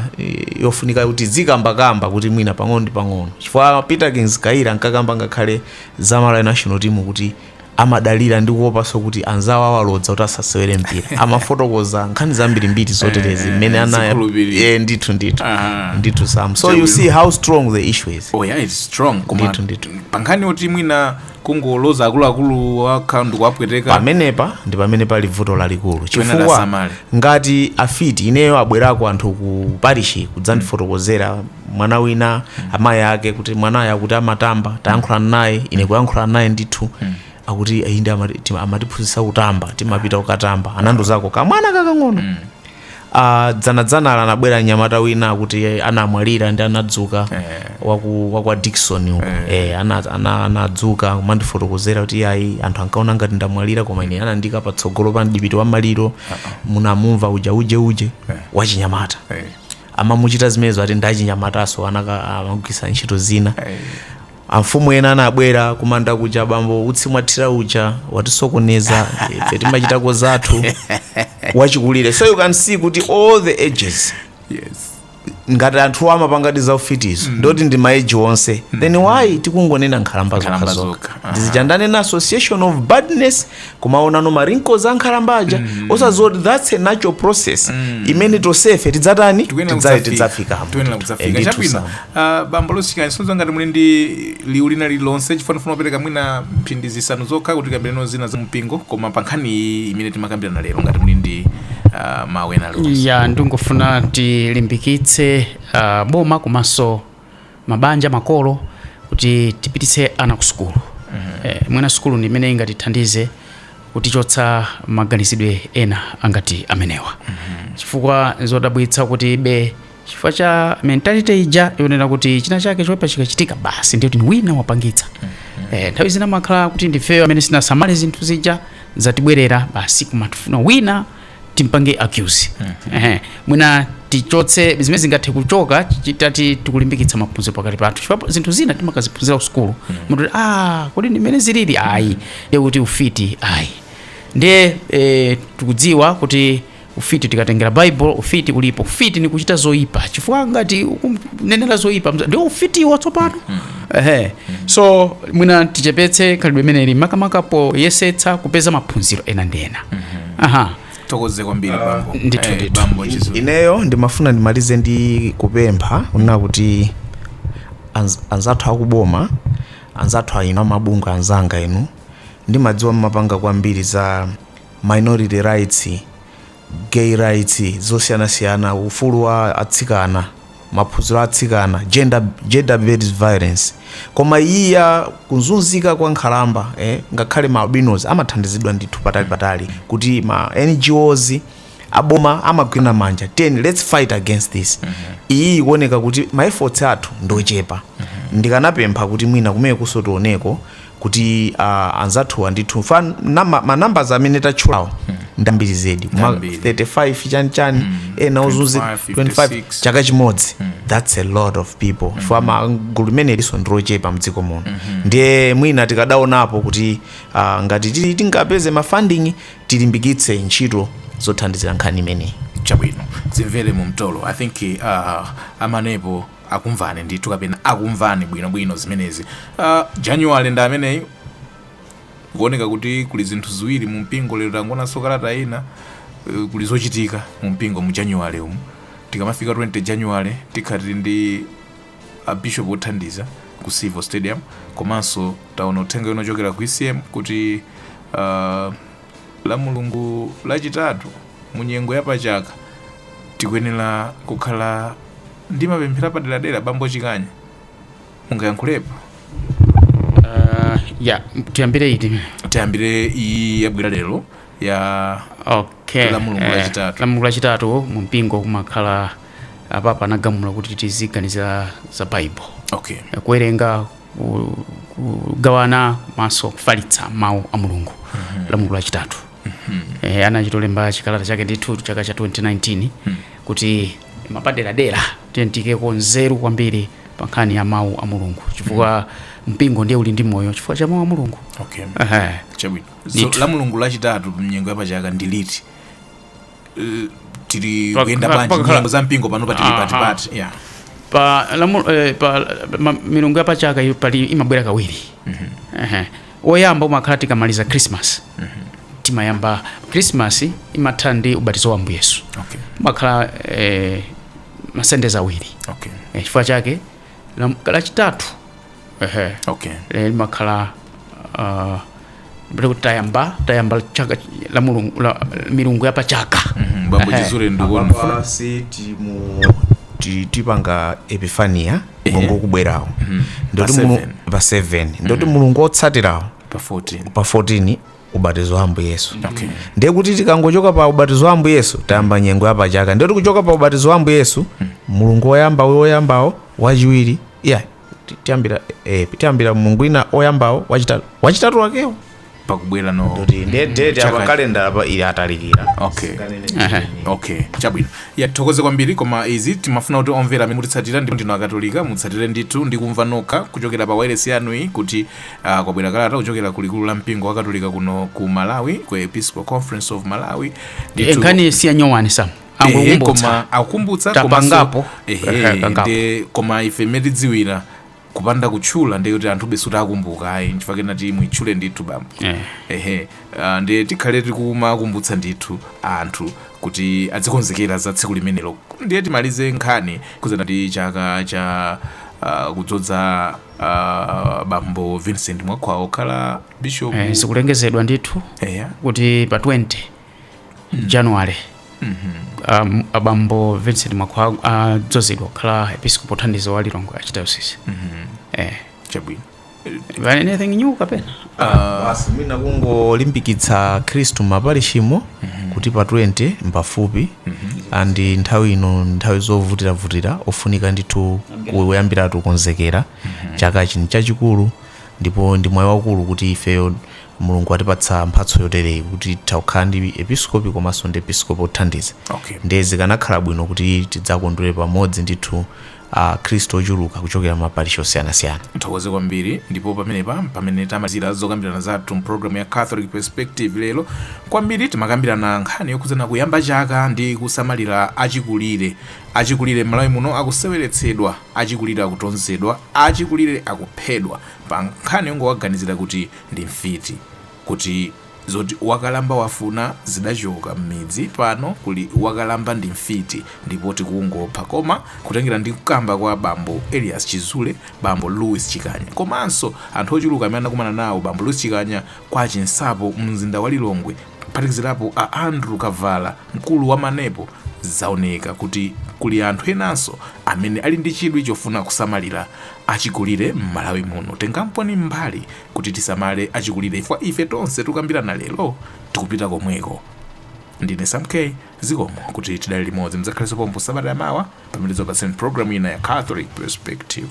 yofunika kuti tizikambakamba kuti mwina pang'ono ndi pang'ono chifukwa Peterkins Kayira ankakamba ngakhale za malawi national team kuti amadalira ndi kuopanso kuti anzawo awalodza kuti asasewere mpira amafotokoza nkhani zambirimbiri zoterezi mmene anaya yeah, ndithu ndithu Aha. ndithu sam so you see how strong the issue is oh yeah it's strong koma pankhani yoti mwina kungoloza akuluakulu okha ndikuwapweteka pamenepa ndi pamene pali vuto lalikulu chifukwa ngati afiti ineyo abwerako anthu ku parishi kudzandifotokozera mwana wina amayi ake kuti mwanayo akuti amatamba tayankhulana naye ine kuyankhulana naye ndithu akuti inde amatiphunzitsa kutamba timapita kukatamba anandiuzako kamwana kakang'ono a dzanadzanala anabwera mnyamata wina kuti anamwalira ndiye anadzuka waku wakwa Dickson uko eh ana ana- anadzuka kumandifotokozera kuti ayi anthu ankaona ngati ndamwalira koma ine anandiika patsogolo pa mdipiti wa maliro munamumva uja uje uje wachinyamata amamuchita zimenezo ati ndachinyamatanso amagwiritsa ntchito zina Amfumu ena anabwera kumanda kuja bambo utsi mwathira uja watisokoneza ife timachitako zathu achikulire so you can see kuti all the ages yes. ngati anthu amapangadi za ufitizo mm. ndi oti ndi maeji onse mm. then why tikungonena nkhalamba zokhazokha ndi chiyani ndi ane na association of badness kumaonano ma wrinkles a nkhalamba aja osadziwa kuti that's a natural process imene tonsefe tidzatani Tidza- tidzafikamo Tikuyenera kudzafika. Eh, ndithu Chabwino. Ah, bambo lusikani sonzo ngati muli ndi liwu lina lililonse chifukwa ndifuna kupereka mwina mphindi zisanu zokha kuti tikambirane zina za mpingo koma pa nkhani iyi imene timakambirana lero ngati muli ndi ah, mawu ena alionse ya ndingofuna tilimbikitse uh, boma komanso mabanja makolo kuti tipititse ana ku sukulu mm -hmm. eh, mwina sukulu ndi imene ingatithandize kutichotsa maganizidwe ena angati amenewa mm -hmm. chifukwa zodabwitsa kuti be chifukwa cha mentality ija yonena kuti china chake choipa chikachitika basi ndiye kuti wina wapangitsa mm -hmm. eh, nthawi zina imakhala kuti ndifeyo amene sitinasamale zinthu zija zatibwerera basi kumafuna wina timpange accuse ehe mwina tichotse zimenezi zingathe kuchoka titati tikulimbikitsa maphunziro pakati pathu chifukwa zinthu zina timakaziphunzira kusukulu munthu kuti, ah kodi ndi mmene zilili ayi ndiye kuti ufiti ayi ndiye eh, tikudziwa kuti ufiti tikatengera bible ufiti ulipo ufiti ni kuchita zoyipa chifukwa ngati ukunenera zoyipa mza- ndiwo ufitiwo tsopano ehe so mwina tichepetse khalidwe imeneli makamaka poyesetsa kupeza maphunziro ena ndi ena aha tithokoze kwambiri bambo ndithu, Eh, ndithu. bambo chizulu ineyo ndimafuna ndimalize ndi kupempha kunena kuti anz- anzathu akuboma anzathu inu amabungwe anzanga inu ndimadziwa mmapanga kwambiri za minority rights gay rights zosiyanasiyana ufulu wa atsikana maphunziro a atsikana, gender, gender based violence, koma iyi ya kuzunzika kwa nkhalamba eh, ngakhale ma albinos amathandizidwa ndithu patali patali kuti ma NGOs aboma amagwirana manja then let's fight against this iyi ikuoneka kuti ma efforts athu ndochepa ndikanapempha kuti mwina kumene kunso tioneko kuti a anzathuwa ndithu fa nama- ma numbers amene tatchulawo ndambiri zedi ma Ndambiri. 35 chani chani ena ozunzi 25, 25 chaka chimodzi that's a lot of people for a gulu limenelinso ndilochepa mdziko muno ndiye mwina tikadaonapo kuti ah, ngati tili- tingapeze ma funding tilimbikitse ntchito zothandizira nkhani imeneyi chabwino za mvere mu mtolo i think uh, amvanepo akumvani ndithu kapena akumvani bwinobwino zimenezi uh, january ndi ameneyi kuoneka kuti kuli zinthu ziwiri mu mpingo lero tangoonanso kalata ina uh, kuli zochitika mu mpingo mu january umu tikamafika 20 january tikhala tili ndi a bishop othandiza ku civo stadium komanso taona uthenga wina ochokera ku ecm kuti uh, La Mulungu lachitatu mu nyengo ya pa chaka tikuyenera kukhala ndi mapemphero apaderadera. Bambo Chikanya, mungayankhulepo? Uh, ya tiyambire iti tiyambire iyi yabwera lero ya okay. la Mulungu eh, lachitatu la Mulungu lachitatu mu mpingo kumakhala apapa anagamula kuti tiziganizira za bible okay. Eh, kuwerenga kugawana komanso kufalitsa mawu a mulungu mm -hmm. la mulungu lachitatu mm -hmm. e, eh, anachitolemba chikalata chake ndithu chaka cha 2019 mm -hmm. kuti mwapaderadera tiyeni tiikeko nzeru kwambiri pa nkhani ya mawu a mulungu chifukwa mm -hmm mpingo ndiye uli ndi moyo chifukwa cha mawu a mulungu okay. uh -huh. so, la mulungu lachitatu mnyengo yapachaka ndi liti eh, tili Pa- kuyenda pa- bwanji pakakhala- nyengo za mpingo pano pamene tili Aha. patipati yeah. pa, lamu, eh, pa ma, milungu yapachaka iyo pali imabwera kawiri Ehe. woyamba umakhala tikamaliza christmas timayamba christmas imatha ndi ubatizo wa ambuye yesu okay. umakhala eh, masendeza awiri okay. Eh, chifukwa chake lam- lachitatu ehe okay eh, limakhala uh, kuti tayamba tayamba chaka la mulungu la milungu ya pachaka Mhm, bambo Ehe. chizule ndikuona apapa si timu ti- tipanga epifania mulungu wokubwerawo nde kuti Pa mulungu- seven. pa 7 nde kuti mulungu wotsatirawo pa 14 pa 14 ubatizo wa ambuye yesu Okay. ndiye kuti tikangochoka pa ubatizo wa ambuye yesu tayamba nyengo ya pachaka ndiye tikuchoka pa ubatizo wa ambuye yesu mulungu woyamba uyo woyambawo wachiwiri ya ti- tiyambira eh, tiyambira mulungu wina oyambawo wachitatu wachitatu wakewo pakubwera nde kuti ndiye date Chaka- apa kalendala apa ili yatalikira okay Aha. okay chabwino ya tithokoze kwambiri koma izi timafuna kuti omvera amene mukutitsatira ndipo ndinu akatolika mutsatire ndithu ndi kumva nokha kuchokera pa wailesi yanu iyi kuti A, kwabwera kalata kuchokera ku likulu la mpingo wakatolika kuno ku malawi ku episcopal conference of malawi Ndithu- Eh, nkhani si yanyowani sam Ehe, angokumbutsa koma akumbutsa Tapangapo. Ehe, komanso kangapo. nde koma ife mmene tikudziwira kupanda kutchula ndiye kuti anthu basitu sakumbuka ayi nchifukwa kenati muitchule ndithu bambo Eh. ehe ah, ndiye tikhale tikumakumbutsa ndithu anthu kuti adzikonzekera za tsiku limenelo ndiye timalize nkhani yokhudzana ndi chaka cha ah, kudzodza uh, bambo vincent mwakhwawa kukhala bishop eh, zikulengezedwa ndithu eya kuti pa 20 january um, abambo vincent mwakhwawa adzozedwa kukhala episkopi wothandiza wa lilongwe archdiocese eh, chabwino But anything new kapena basi mwina kungolimbikitsa akhristu m'maparishimo kuti pa 20 mpafupi and nthawi ino ndi nthawi zovutiravutira pofunika ndithu kuyambiratu kukonzekera chaka chino chachikulu ndipo ndi mwayi waukulu kuti ifeyo mulungu atipatsa mphatso yotereyi kuti tikukhala ndi episkopi komanso ndi episkopi othandiza ndiye zikanakhala bwino kuti tidzakondwere pamodzi ndithu Akhristu ochuluka kuchokera m'maparishi osiyanasiyana. Tithokoze kwambiri ndipo pamenepa mpamene tamalizira zokambirana zathu m'pulogalamu ya Catholic Perspective lero. Kwambiri timakambirana nkhani yokhudzana kuyamba chaka ndi kusamalira achikulire. Achikulire m'Malawi muno akuseweretsedwa, achikulire akutonzedwa, achikulire akuphedwa pa nkhani yongowaganizira kuti ndi mfiti. kuti zoti wakalamba wafuna zidachoka mmidzi pano kuli wakalamba ndi mfiti ndipo tikungopha koma kutengera ndi kukamba kwa bambo Elias Chizule, bambo Louis Chikanya komanso anthu ochuluka amene anakumana nawo bambo Louis Chikanya kwa Chinsapo mumzinda wa Lilongwe kuphatikizirapo a Andrew Kavala mkulu wa Manepo zaoneka kuti kuli anthu enanso amene ali ndi chidwi chofuna kusamalira achikulire m'Malawi muno. Tengamponi mbali kuti tisamale achikulire chifukwa ife tonse tikukambirana lero tikupita komweko. Ndine Sam K. Zikomo kuti tidali limodzi mudzakhalenso pompo sabata ya mawa pamene tidzakupatsirani programu ina ya Catholic Perspective.